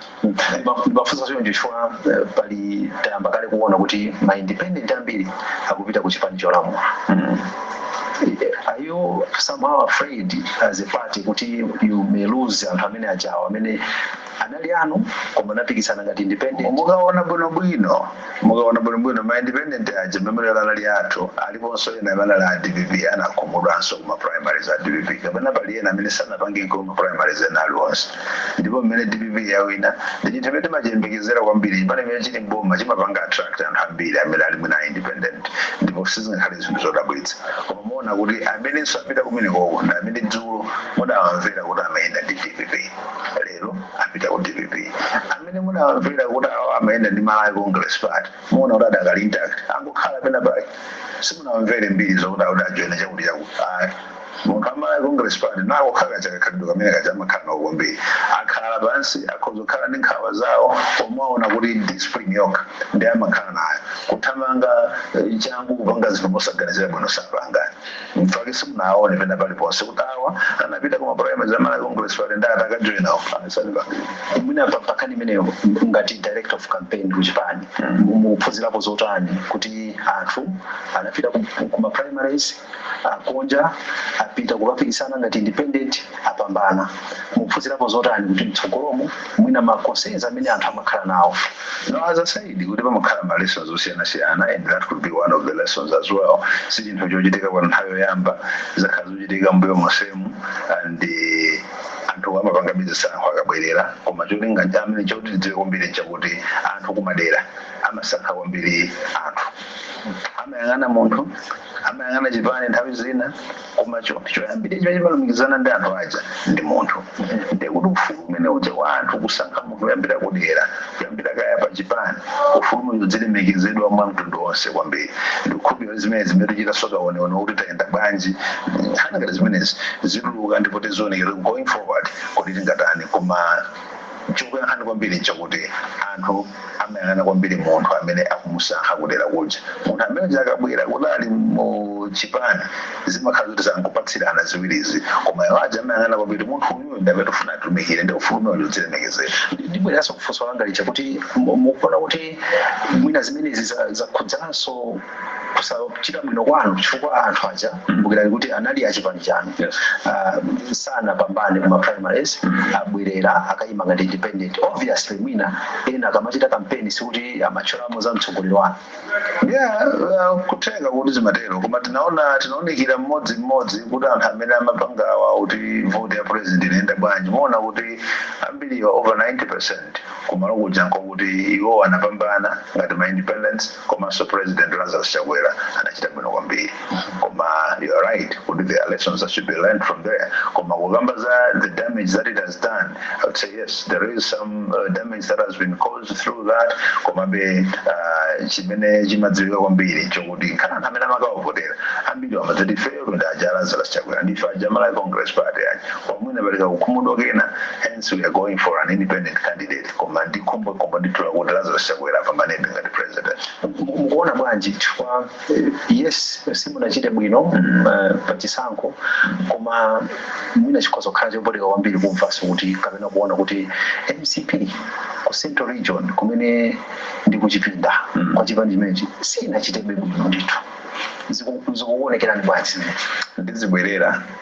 ndimafunsa choncho chifukwa eh, pali tayamba kale kuona kuti ma independent ambiri akupita ku chipani cholamula are you somehow afraid as a party kuti you may lose anthu amene ajawo amene anali anu koma anapikisana ngati independent mukaona bwinobwino mukaona bwinobwino ma independent aja memorial anali athu aliponso ena amene anali a dpp anakhumudwanso kuma primaries a dpp kapena pali ena amene sanapange nkoma primaries ena aliwonse ndipo mmene dpp yawina ndi chinthu chimene timachiyembekezera kwambiri chipani chimene chili mboma chimapanga attract anthu ambiri amene ali mwina a independent ndipo sizingakhale zinthu zodabwitsa koma muona kuti amene apita kumenekoko ndi amene dzulo mudawamvera kuti amayenda ndi dpp lero apita ku dpp amene munawamvera kuti awa amayenda ndi malawi congress party muona kuti adakali intact angokhala pena pake simunawamvere mbiri zokuti akuti ajoina chakuti chakuti ayi munthu amalawi congress party kakhalidwe kamene kaja amakhala nawo kwambiri akhala pansi akhoza kukhala ndi nkhawa zawo koma muona kuti discipline yokha ndi amakhala nayo kuthamanga eh, changu kupanga zinthu mosaganizira bwino sapangani Mfake simunaone pena paliponse kuti awa anapita kuma primaries a Malawi Congress Party ndi ataka join awo asani pa mwina pa pakani imeneyo ngati director of campaign ku chipani mukuphunzirapo zotani kuti anthu anapita ku, ku ma primaries agonja apita kukapikisana ngati independent apambana mukuphunzirapo zotani kuti mtsogolomo mwina ma concerns amene anthu amakhala nawo now as i said kuti pamakhala ma lessons osiyanasiyana and that could be one of the lessons as well si chinthu chochitika kwa nthawi yoyamba zakhala zochitika mbuyo monsemu and eh, anthu amapangabe zisankho akabwerera koma cholinga chimene choti tidziwe kwambiri chakuti anthu kumadera amasankha kwambiri anthu amayang'ana munthu amayang'ana chipani nthawi zina koma chinthu choyambirira chimene chimalumikizana ndi anthu aja ndi munthu ndiye kuti ufulu umene uja wa anthu kusankha munthu kuyambira kudera kuyambira kaya pa chipani ufulu umene udzilemekezedwa mwa mtundu wonse kwambiri ndikukhulupirira kuti zimene tichita zokaoneona kuti tayenda bwanji nkhani ngati zimenezi zituluka ndipo tizionekera going forward kuti tingatani koma chokuyankhani kwambiri nchakuti anthu amayang'ana kwambiri munthu amene akumusankha kudera kuja. Munthu amene uja akabwera kuti ali mu chipani zimakhala zoti zakupatsirana ziwirizi, koma iwo aja amayang'ana kwambiri munthu uyuyu ndi amene tikufuna atumikire, ndiye ufulu umenewo udzilemekezedwa. Ndi- Ndibwereranso kufunso langa lija kuti mu- mukuona kuti mwina zimenezi za- zakhudzanso kusachita bwino kwanu chifukwa anthu aja kumbukirani kuti anali achipani chanu Ah, sanapambane kuma primaries abwerera akayima ngati independent obviously mwina ena akamachita kampeni sikuti amatchoramo za mtsogoleri wanu yeah uh, kutheka kuti zimatero koma tinaonekera mmodzi mmodzi kuti anthu amene amapangawa kuti vote ya president inayenda bwanji muona kuti ambiriwa over 90 percent kumalo kuja nkokuti iwo anapambana ngati ma independents komanso president Lazarus Chakwera anachita bwino kwambiri koma you are right kuti there are lessons that should be learned from there koma kukamba za the damage that it has done I would say yes there is some uh, damage that has been caused through that komabe uh, chimene chimadziwika kwambiri chokuti nkhana anthu amene amakawavotera ambiri amadzati ifeyo ndi aja Lazarus Chakwera ndife aja Malawi Congress Party aja koma mwina apereka kukhumudwa kwina hence we are going for an independent candidate Koma ndi khumbokhumbo ndithu lakuti Lazarus Chakwera apambanebe ngati president. Mukuona bwanji chifukwa yes simunachite bwino pa chisankho koma mwina chikhoza kukhala chopweteka kwambiri kumvanso kuti kapena kuona kuti mcp ku central region kumene ndi kuchipinda kwa chipani chimenechi sinachitebe bwino ndithu. Zikuonekerani bwanji zimenezi? Ndizibwerera.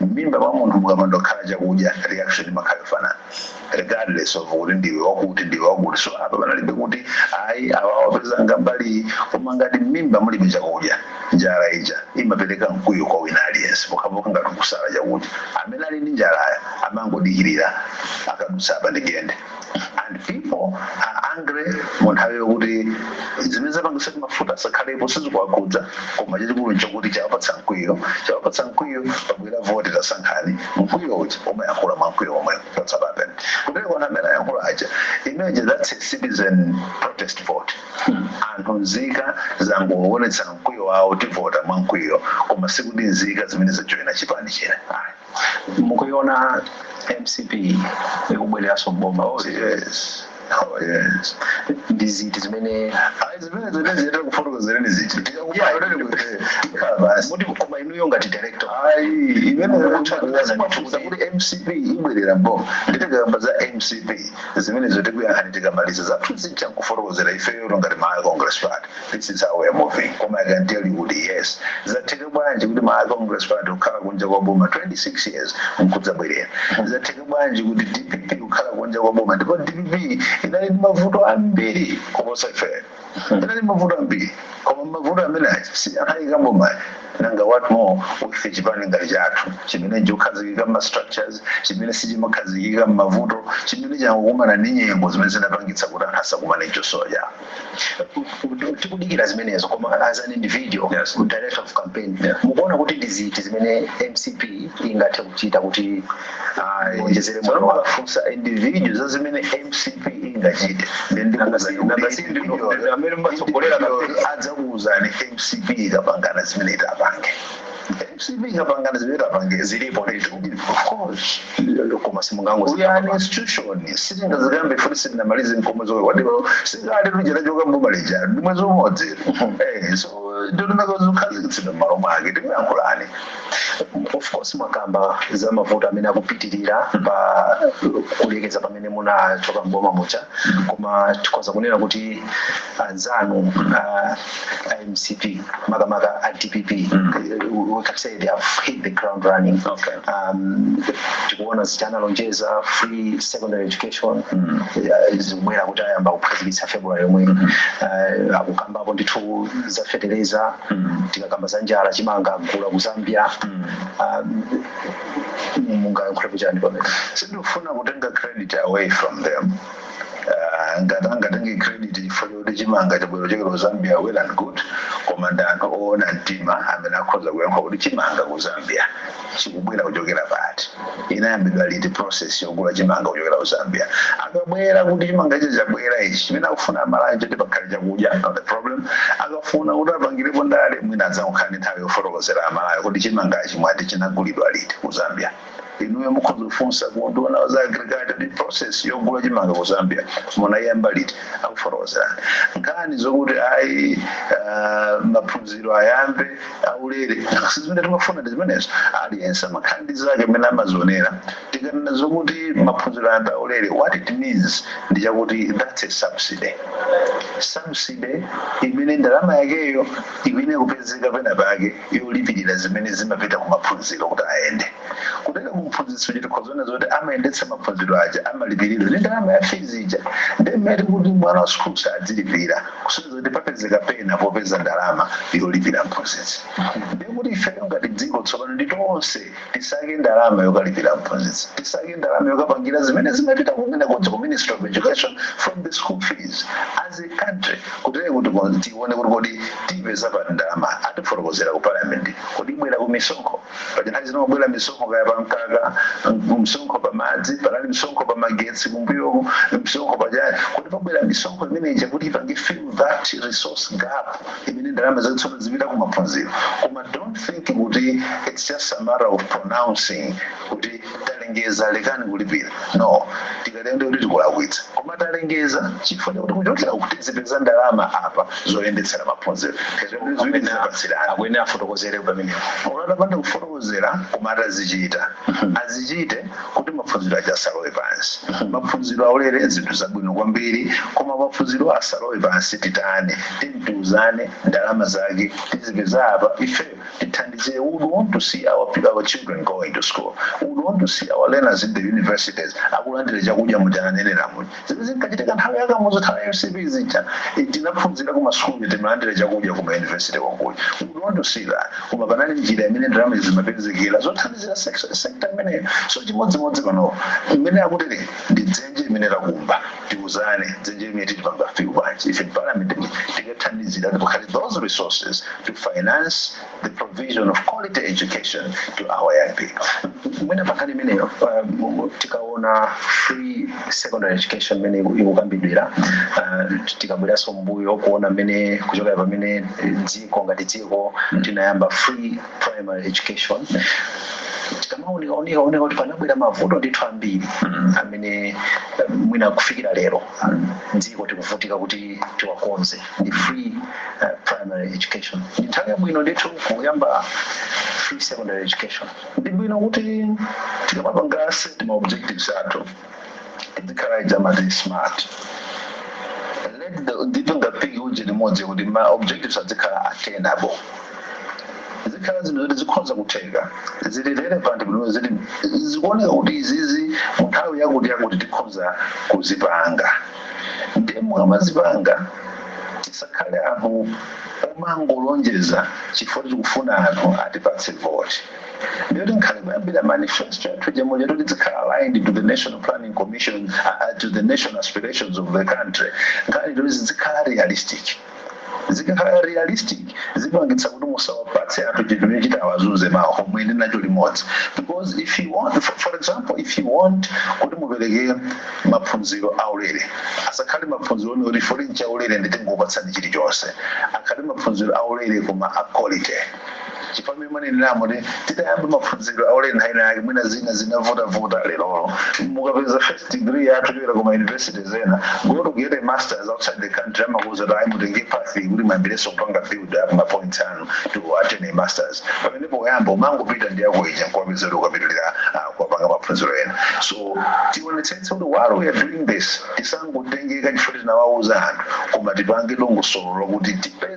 M'mimba mwa munthu mukapanda kukhala chakudya reaction imakhala yofanana regardless of kuti ndiwe wakuti ndiwe wakuti. So apa panalibe kuti ayi awa awapezanga mbali iyi. Koma ngati m'mimba mulibe chakudya, njala ija imapereka mkwiyo kwa wina aliyense pokhapokha ngati ukusala chakudya. Amene ali ndi njalayo amangodikirira akadutsa apa ndigende. and people are angry mu nthawi yokuti zimene zapangisa kuti mafuta asakhalepo sizikuwakhudza koma chachikulu nchakuti chawapatsa mkwiyo chawapatsa mkwiyo pabwera voti tasankhani mkwiyo uja umayankhula mwa mkwiyo omwe that's what happened kutero kona amene ayankhula aja imagine that's a citizen protest vote anthu nzika zangoonetsa mkwiyo wawo tivota mwa mkwiyo koma sikuti nzika zimenezi zajoyina chipani china Ayi. mukuiona mcp ikubwereranso mboma Oh, yes. Oh, yes. ndi ziti zimene Ayi, zimene zimene ziyenda kufotokozerani ziti. Ndikakubaya kuti ndikutere. Ndikhala basi. muti koma inuyo ngati director Ayi, imene Mukuchita kuona ndikufunsa kuti- kuti MCP ibwerera mboma. Nde tikamba za MCP. Zimenezo tikuyankhani tikamaliza. Zathu zija nkufotokozera ifeyo ngati Malawi Congress Party. this is how we are moving koma i can tell you kuti yes zatheka bwanji kuti malawi congress party kukhala kunja kwa boma 26 years nkudzabwerera zatheka bwanji kuti dpp kukhala kunja kwa boma ndipo dpp inali ndi mavuto ambiri kuposa ifeyo inali mavuto ambiri koma mavuto amenewo anayika mboma nanga what more with chipani ngati chathu chimene chakhazikika ma structures chimene sichimakhazikika m'mavuto chimene chakumana ndi nyengo zimene zinapangitsa kuti anthu asakumane zosowa zawo ku- ku- tikudikira zimenezo koma as an individual Yes. director of campaign Yeah. mukuona kuti ndi ziti zimene mcp ingathe kuchita kuti iwonjezere moyo wake mukafunsa individual za zimene mcp ingachite amene amatsogolera kampeni adzakuuzani mcp ikapangana zimene itapange mcp ikapangana zimene itapange zilipo ndithu of course koma simungango we are an institution sitingazikambe futi sitinamalize mkomwe zomwe kwadiwo si ngati tichokera m'boma lija ndi mwezi umodzi Eh, so ndondomeko zokhazikitsidwa m'malo mwake tikuyankhulani of course mwakamba za mavuto amene akupitirira pa kulekeza pamene munachoka mboma muja koma tikhoza kunena kuti anzanu a, a mcp makamaka a dpp we can say they have hit the ground running Okay. um, tikuona zija analonjeza free secondary education eh, zikubwera kuti ayamba kukhazikitsa february yomwe Eh, akukambapo ndithu za fetereza tikakamba za njala chimanga agula ku zambia Um, mungayankhulepo chani pamene sindikufuna kutenga credit away from them Ah, ngati angatenge credit chifukwa choti chimanga chabwera kuchokera ku zambia well and good koma ndi anthu oona mtima amene akhoza kuyankha kuti chimanga ku zambia chikubwera kuchokera pati inayambidwa liti process yogula chimanga kuchokera ku zambia akabwera kuti chimanga ichi chabwera ichi chimene akufuna amalawi choti pakhale chakudya not the problem akafuna kuti apangirepo ndale mwina adzakhala ndi nthawi yofotokozera amalawi kuti chimangachi mwina chinagulidwa liti ku zambia inuyo mukhoza kufunsa ku nduna za agriculture process yogula chimanga ku zambia munayiyamba liti akufotokozerani nkhani zokuti ayi ah, maphunziro ayambe aulere si zimene timafuna ndi zimenezo aliyense amakhala ndi zake mmene amazionera tikanena zokuti maphunziro ayambe aulere what it means ndi chakuti that's a subsidy subsidy imene ndalama yakeyo iyenera kupezeka pena pake yolipilira zimene zimapita ku maphunziro kuti ayende kutenga ku mphunzitsi uja tikhoza kuona zoti amayendetsa maphunziro aja amalipilidwa ndi ndalama ya fees ija ndiye mmene tikuti mwana wa sukulu asadzilipira kusonyeza kuti papezeka pena popeza ndalama yolipira mphunzitsi ndiye kuti ifeyo ngati dziko tsopano ndi tonse tisake ndalama yokalipira aphunzitsi tisake ndalama yokapangira zimene zimapita kumenekuja ku ministry of education from the school fees as a country kutere kuti kon- tione kuti kodi tipeza pati ndalama atifotokozera ku parliament kodi ibwera ku misonkho paja nthawi zina kumabwera misonkho kaya pa mkaka m- msonkho pa madzi panali msonkho pa magetsi kumbuyoku msonkho pachani kodi pabwera misonkho imeneja kuti ipange fill that resource gap imene ndalama zake tsopano zipita ku maphunziro koma don't think kuti it's just a matter of pronouncing kuti talengeza lekani kulipira no tikatero ndiye kuti tikulakwitsa koma talengeza chifukwa chakuti kuchokera kuti tizipeza ndalama apa zoyendetsera maphunziro akuyenera afotokozere pamenepo olo atapanda kufotokozera koma atazichita azichite kuti maphunziro aja asalowe pansi maphunziro aulere zinthu zabwino kwambiri koma maphunziro asalowe pansi titani tiyeni tiuzane ndalama zake tizipeza apa ife tithandize we would want to see our, pe- our children going to school we would want to see our learners in the universities akulandira chakudya muja ananenera muja zimene zinkachitika nthawi ya kamuzu nthawi ya mcp zija eh, tinaphunzira ku masukulu timalandira chakudya ku mayunivesiti konkuja we would want to see that koma panali njira imene ndalama zimapezekera zothandizira sek- sekta imeneyo so chimodzimodzi panopo imene akuti ndi dzenje imene takumba tiuzane dzenje imene tilipanga fill bwanji ife parliament tikathandizira pakhale those resources to finance the provision of quality education to our young people mwina pankhani imeneyo um, tikaona free secondary education imene iku- ikukambidwira uh, tikabweranso mbuyo kuona mmene kuchokera pamene eh, dziko ngati dziko tinayamba free primary education tikamaona kuoneka kuti panabwera mavuto ndithu ambiri amene eh, mwina kufikira lero dziko tikuvutika kuti tiwakonze ndi free uh, primary education ndi nthawi yabwino ndithu kuyamba free secondary education ndi bwino kuti tikamapanga set ma objectives athu tizikhala ija amati smart ndipo ngati uje imodzi kuti ma objectives azikhala attainable zikhale zinthu zoti zikhonza kutheka zili relevant zoti zikuoneka kuti izizi mu nthawi yakuti yakuti tikhonza kuzipanga ndiye mukamazipanga tisakhale anthu omangolonjeza chifukwa tikufuna anthu atipatse voti ndiyoti nkhani kuyambira manifesto yathu ija mwayenera kuti izikhala aligned to the national planning commission uh, to the national aspirations of the country ikhale yoti izikhala realistic zikakhala realistic zipangitsa kuti musawapatse anthu chinthu chimene chitawazunze mawa omwe ndi nacho limodzi because if you want for, for example if you want kuti mupereke maphunziro aulere asakhale maphunziro oti poti ndi chaulere ndiye tingokupatsani chilichonse akhale maphunziro aulere koma a quality chifukwa mmene mwanenera muja titayamba maphunziro aulere nthawi ina yake mwina zina zinavutavuta lerolo mukapeza first degree yathu yochokera kuma universities when I go to get a masters outside the country amakuuza kuti ayi mutenge path iyi kuti muyambirenso kupanga build up ma points anu to attain a masters pamene poyamba umangopita ndi yako ija nkukapeza kuti ukapitirira ah, kukapanga maphunziro ena so tionetsetse kuti while we are doing this tisangotengeka chifukwa tinawauza anthu koma tipange dongosolo lokuti tipeze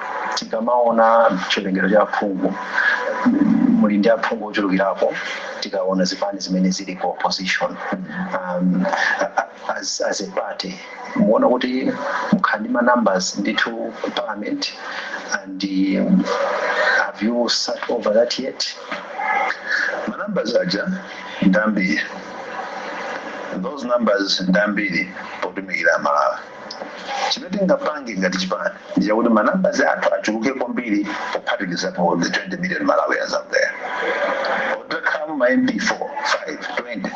tikamaona chiwerengero cha aphungu muli ndi aphungu ochulukirapo tikaona zipani zimene zili ku opposition um, a- a- as, as a party muona kuti mukhala ndi ma numbers ndithu ku parliament and um, have you sat over that yet ma numbers aja ndambiri those numbers ndambiri potumikira amalawi Chimene tingapange ngati chipani ndi chakuti ma numbers athu achuluke kwambiri pophatikizapo the 20 million Malawians out there. Or titakhala mu ma MPs 4, 5, 20.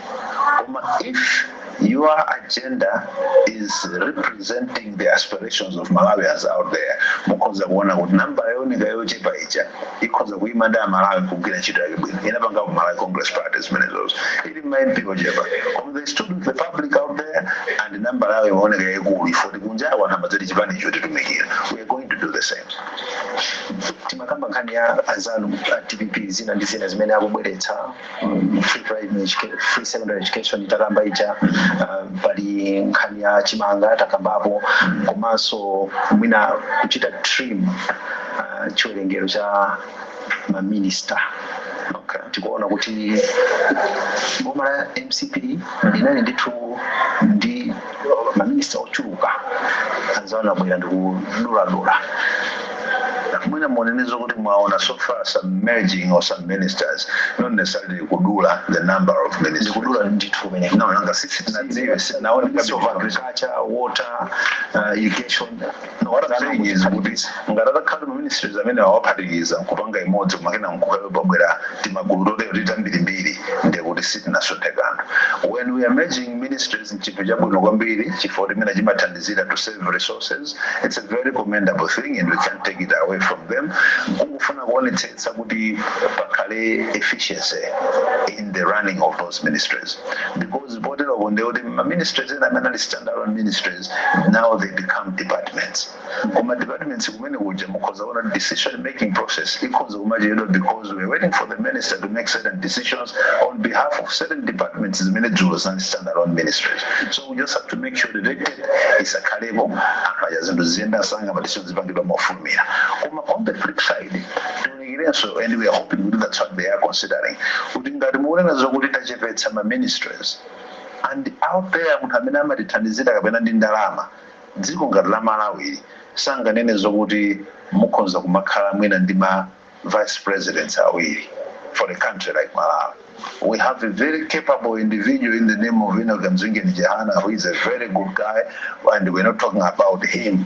Koma if your agenda is representing the aspirations of Malawians out there, mukhoza kuona kuti nambala yooneka yochepa ija ikhoza kuima ndi a Malawi nkugwira ntchito yake bwino. Inapangako Malawi Congress Party zimenezozo. Ili ndi ma MP ochepa. Koma they stood with the public out there, and namba yawo imaoneka yaikulu chifukwa choti kunjaku anthu amati chipani icho chikutitumikira. We are going to do the same. timakamba nkhani ya anzanu a dpp zina ndi zina zimene akubweretsa mm, free primary educa- free secondary education itakamba ija uh, pali nkhani ya chimanga takambapo komanso mwina kuchita trim uh, chiwerengero cha ma minister okay. tikuona kuti boma la mcp linali ndithu ndi ma minister ochuluka anzanuwa abwera ndikuduladula mwina mukunenazo kuti mwaona so far some merging of some ministries not necessarily kudula the number of ministries ndikudula ndithu kumene no nanga sisi tinaona ministry of agriculture water uh, irrigation No what I'm saying is kuti ngati atakhala ma ministries amene awaphatikiza nkupanga imodzi koma kenaka kukabwera timagulu totero titambirimbiri ndiye kuti sitinasunthe kanthu when we are merging ministries nchinthu chabwino kwambiri chifukwa chimene chimathandizira to save resources it's a very commendable thing and we can't take it away from them kungofuna kuonetsetsa kuti pakhale efficiency in the running of those ministries because poteropo ndiye kuti ma ministries ena amene ali standalone ministries now they become departments koma departments kumene kuja mukhoza kuona decision making process ikhoza kumachedwa because we're waiting for the minister to make certain decisions on behalf of certain departments zimene dzulo zinali standalone ministries so we just have to make sure that pakakhalapo anthu aja zinthu ziziyenda msanga madecision zizipangidwa mofulumira koma on the flip side tionekerenso and we are hoping kuti that's what they are considering kuti ngati mukunena zokuti tachepetsa ma ministries and out there munthu amene amatithandizira kapena ndi ndalama dziko ngati la malawi ili sanganene zokuti mukhonza kumakhala mwina ndi ma vice presidents awiri for a country like malawi we have a very capable individual in the name of inoki kamzingeni chihana who is a very good guy and we're not talking about him.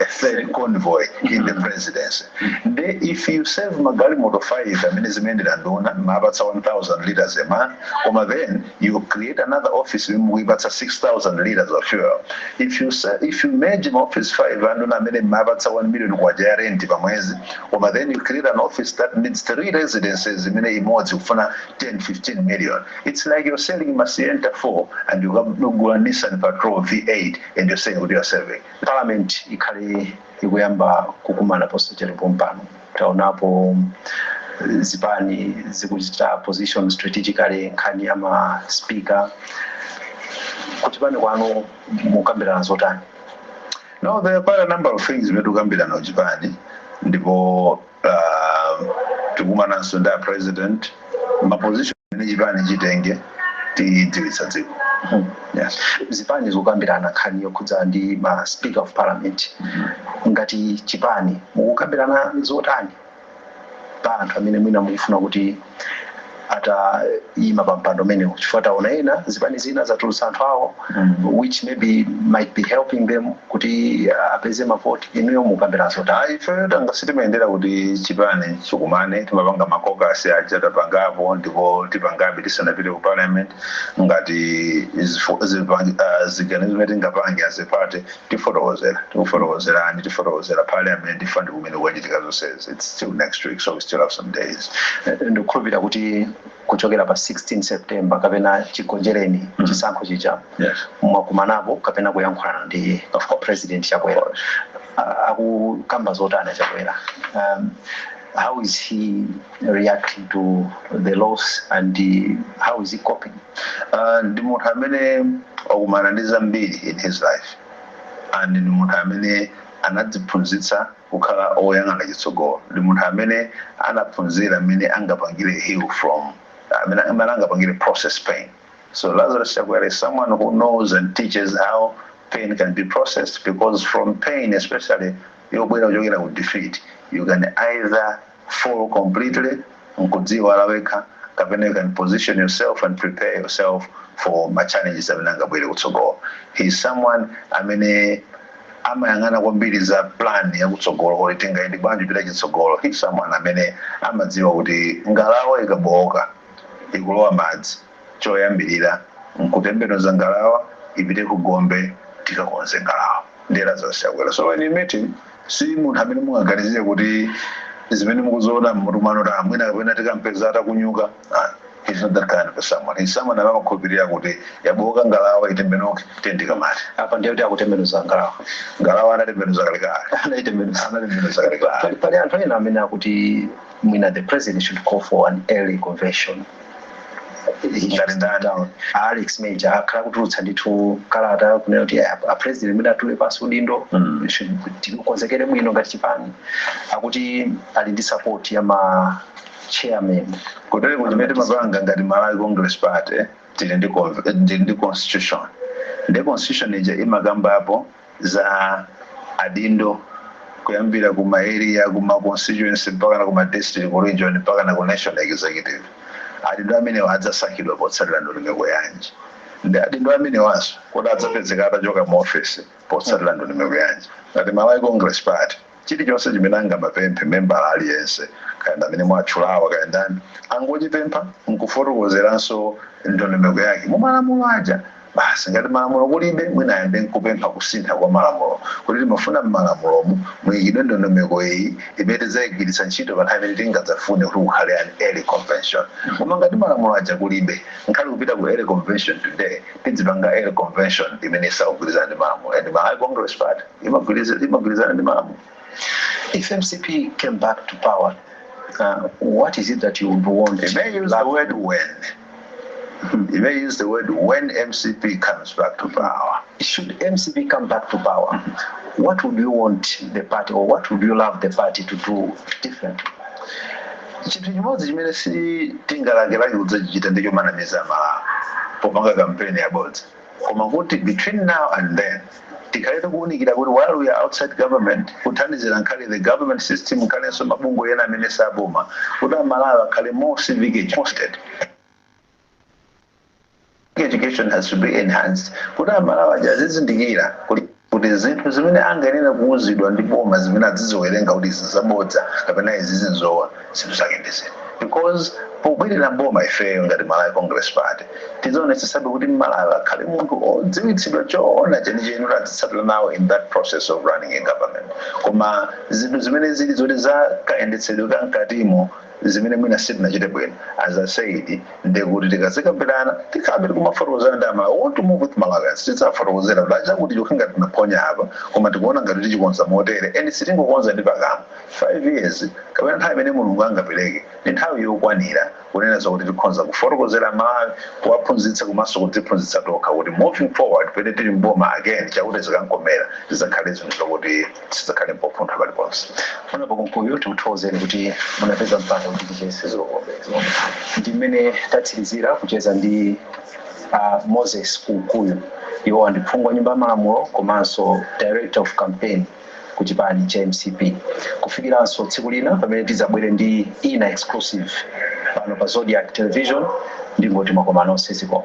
a third convoy in the presidency nde if you save magalimoto 5 amene zimayendera nduna mapatsa 1000 liters a month koma then you create another office imene mukuipatsa 6000 liters of fuel if you, sa- if you merge ma office 5 anduna amene mumawapatsa 1 million kwacha ya rent pa mwezi koma then you create an office that needs three residences imene imodzi kufuna 10 15 million it's like you're selling masienta 4 and you have Nissan patrol v8 and you're saying kuti you're saving Parliament ikhale ikuyamba kukumana posachedwa pompano. Taonapo zipani zikuchita position strategically nkhani ya ma speaker. Ku chipani kwanu mukambirana zotani? No, there are quite a number of things zimene tikukambirana ku chipani ndipo Ah, tikumananso ndi a president ma position amene chipani chitenge tidziwitsa dziko yes. zipani zikukambirana nkhani yokhudza ndi ma speaker of parliament ngati chipani mukukambirana zotani pa anthu amene mwina mukufuna kuti ataima pa mpando umenewu chifukwa taona ena zipani zina zatulutsa anthu awo which maybe might be helping them kuti uh, apeze mavoti inuyo mukambirana zotani ayi ifeyo takhala sitimayendera kuti chipani chikumane timapanga makokasi aja tapangapo ndipo tipangabe tisanapite ku parliament ngati zifu- zipangi- ah, ziganizo zimene tingapange as a party tifotokozera tikufotokozerani tifotokozera parliament fund kumene kukuchitika zonsezi its still next week so we still have some days ndikukhulupirira kuti kuchokera pa 16 september kapena chigonjereni chisankho chija yes mwakumanapo kapena kuyankhulana ndi pa phone president chakwera Ah, akukamba zotani chakwera um, how is he reacting to the loss and uh, how is he coping uh, ndi munthu amene wakumana ndi zambiri in his life and ndi munthu amene anadziphunzitsa kukhala oyang'ana chitsogolo ndi munthu amene anaphunzira mmene angapangire heal from mmene mmene angapangire process pain so lazarus chakwera is someone who knows and teaches how pain can be processed because from pain especially yobwera kuchokera ku defeat you can either fall completely nkudziiwala wekha kapena you can position yourself and prepare yourself for ma challenges amene angabwere kutsogolo. He is someone amene amayang'ana kwambiri za plan yakutsogolo kuti tingayende bwanji kupita chitsogolo. He is someone amene amadziwa kuti ngalawa ikabowoka ikulowa madzi. Choyambirira nkutembenuza ngalawa ipite ku gombe tikakonze ngalawa. Ndi Lazarus Chakwera so when you meet him si munthu amene mungaganizire kuti zimene mukuziona mmutu mwanu kuti ah mwina kapena tikampeza atakunyuka ah he's not that kind of a someone. He's someone amene amakhulupirira kuti yabooka ngalawa itembenuke tiyeni tikamate. Apa ndiye kuti akutembenuza ngalawa. Ngalawa anatembenuza kalekale. Anaitembenuza. Anatembenuza kalekale. Pali anthu ena amene akuti mwina the president should call for an early convention. ngati ndatchula a alex major akhala akutulutsa ndithu kalata kunena kuti a a president mwina atule pansi udindo Mm. should- tikonzekere bwino ngati chipani akuti ali ndi support ya ma chairman kotero kuti mmene timapangira ngati malawi congress party tili ndi con- eh, tili ndi constitution and constitution ija imakambapo za adindo kuyambira ku ma area ku ma constituency mpaka na ku ma district ku region mpaka na ku national executive adindo amenewa adzasankhidwa potsatira ndondomeko yanji ndi adindo amenewanso kuti adzapezeka atachoka mu office potsatira ndondomeko yanji ngati malawi congress party Chilichonse chimene angamapemphe membala aliyense, kaya ndi amene mwatchulawa kaya ndani, angochipempha n'kufotokozeranso ndondomeko yake mu malamulo aja basi. Ngati malamulo kulibe, mwina ayambe n'kupempha kusintha kwa malamulo kuti timafuna m'malamulomu muikidwe ndondomeko iyi imene tidzaigwiritsa ntchito pa nthawi imene tingadzafune kuti kukhale an early convention. Koma ngati malamulo aja kulibe, nkhale kupita ku early convention today, tidzipanga early convention imene isakugwirizana ndi malamulo and Malawi Congress Party. imagwiriza- imagwirizana ndi malamulo if mcp came back to power uh, what is it that you would want You may use the word when. You may use the word when MCP comes back to power. Should mcp come back to power what would you want the party or what would you love the party to do differently chinthu chimodzi chimene sitingalakelake kudzachichita ndicho kumanamiza aMalawi popanga kampeni yabodza koma kuti between now and then tikhale tikuunikira kuti while we are outside government kuthandizira nkhale the government system nkhalenso mabungwe ena amene si a boma kuti amalawi akhale more civic educated education has to be enhanced kuti amalawi aja azizindikira kuti kuti zinthu zimene angayenere kuuzidwa ndi boma zimene adziziwerenga kuti izi nzabodza kapena izizi nzoona zinthu zake ndi ziti because pobwerera m'boma ifeyo ngati Malawi Congress Party tidzaonetsetsabe kuti m'Malawi akhale munthu odziwitsidwa choona chenicheni kuti adzitsatira nawo in that process of running a government koma zinthu zimene zili zoti za kayendetsedwe ka mkatimo zimene mwina sitinachite bwino as i said ndekuti tikazikambirana tikhalabe tikumafotokozana ndi amalawi want to move with malawians tidzafotokozera kuti a chakutichakuti ngati tinaphonya apa koma tikuona ngati tichikonza motere and sitingokonza ndi pakamwa 5 years kapena nthawi imene mulungu angapereke ndi nthawi yokwanira kunena zakuti tikhonza kufotokozera amalawi kuwaphunzitsa komanso kudziphunzitsa tokha kuti moving forward pene tili mboma again cha kuti zikam'komera zidzakhale zinthu zokuti sizakhale pofuntha paliponse honourable kunkuyu tikuthokozeni kuti munapeza mpata kuti ticheze zikomo umo ndi mmene tatsirizira kucheza ndi uh, moses kunkuyu iwowa ndi phungu wa nyumba ya malamulo komanso director of campaign ku chipani cha mcp kufikiranso tsiku lina pamene tidzabwere ndi ina exclusive pano pa zodiak television ndingoti mwakoma nonse zikomo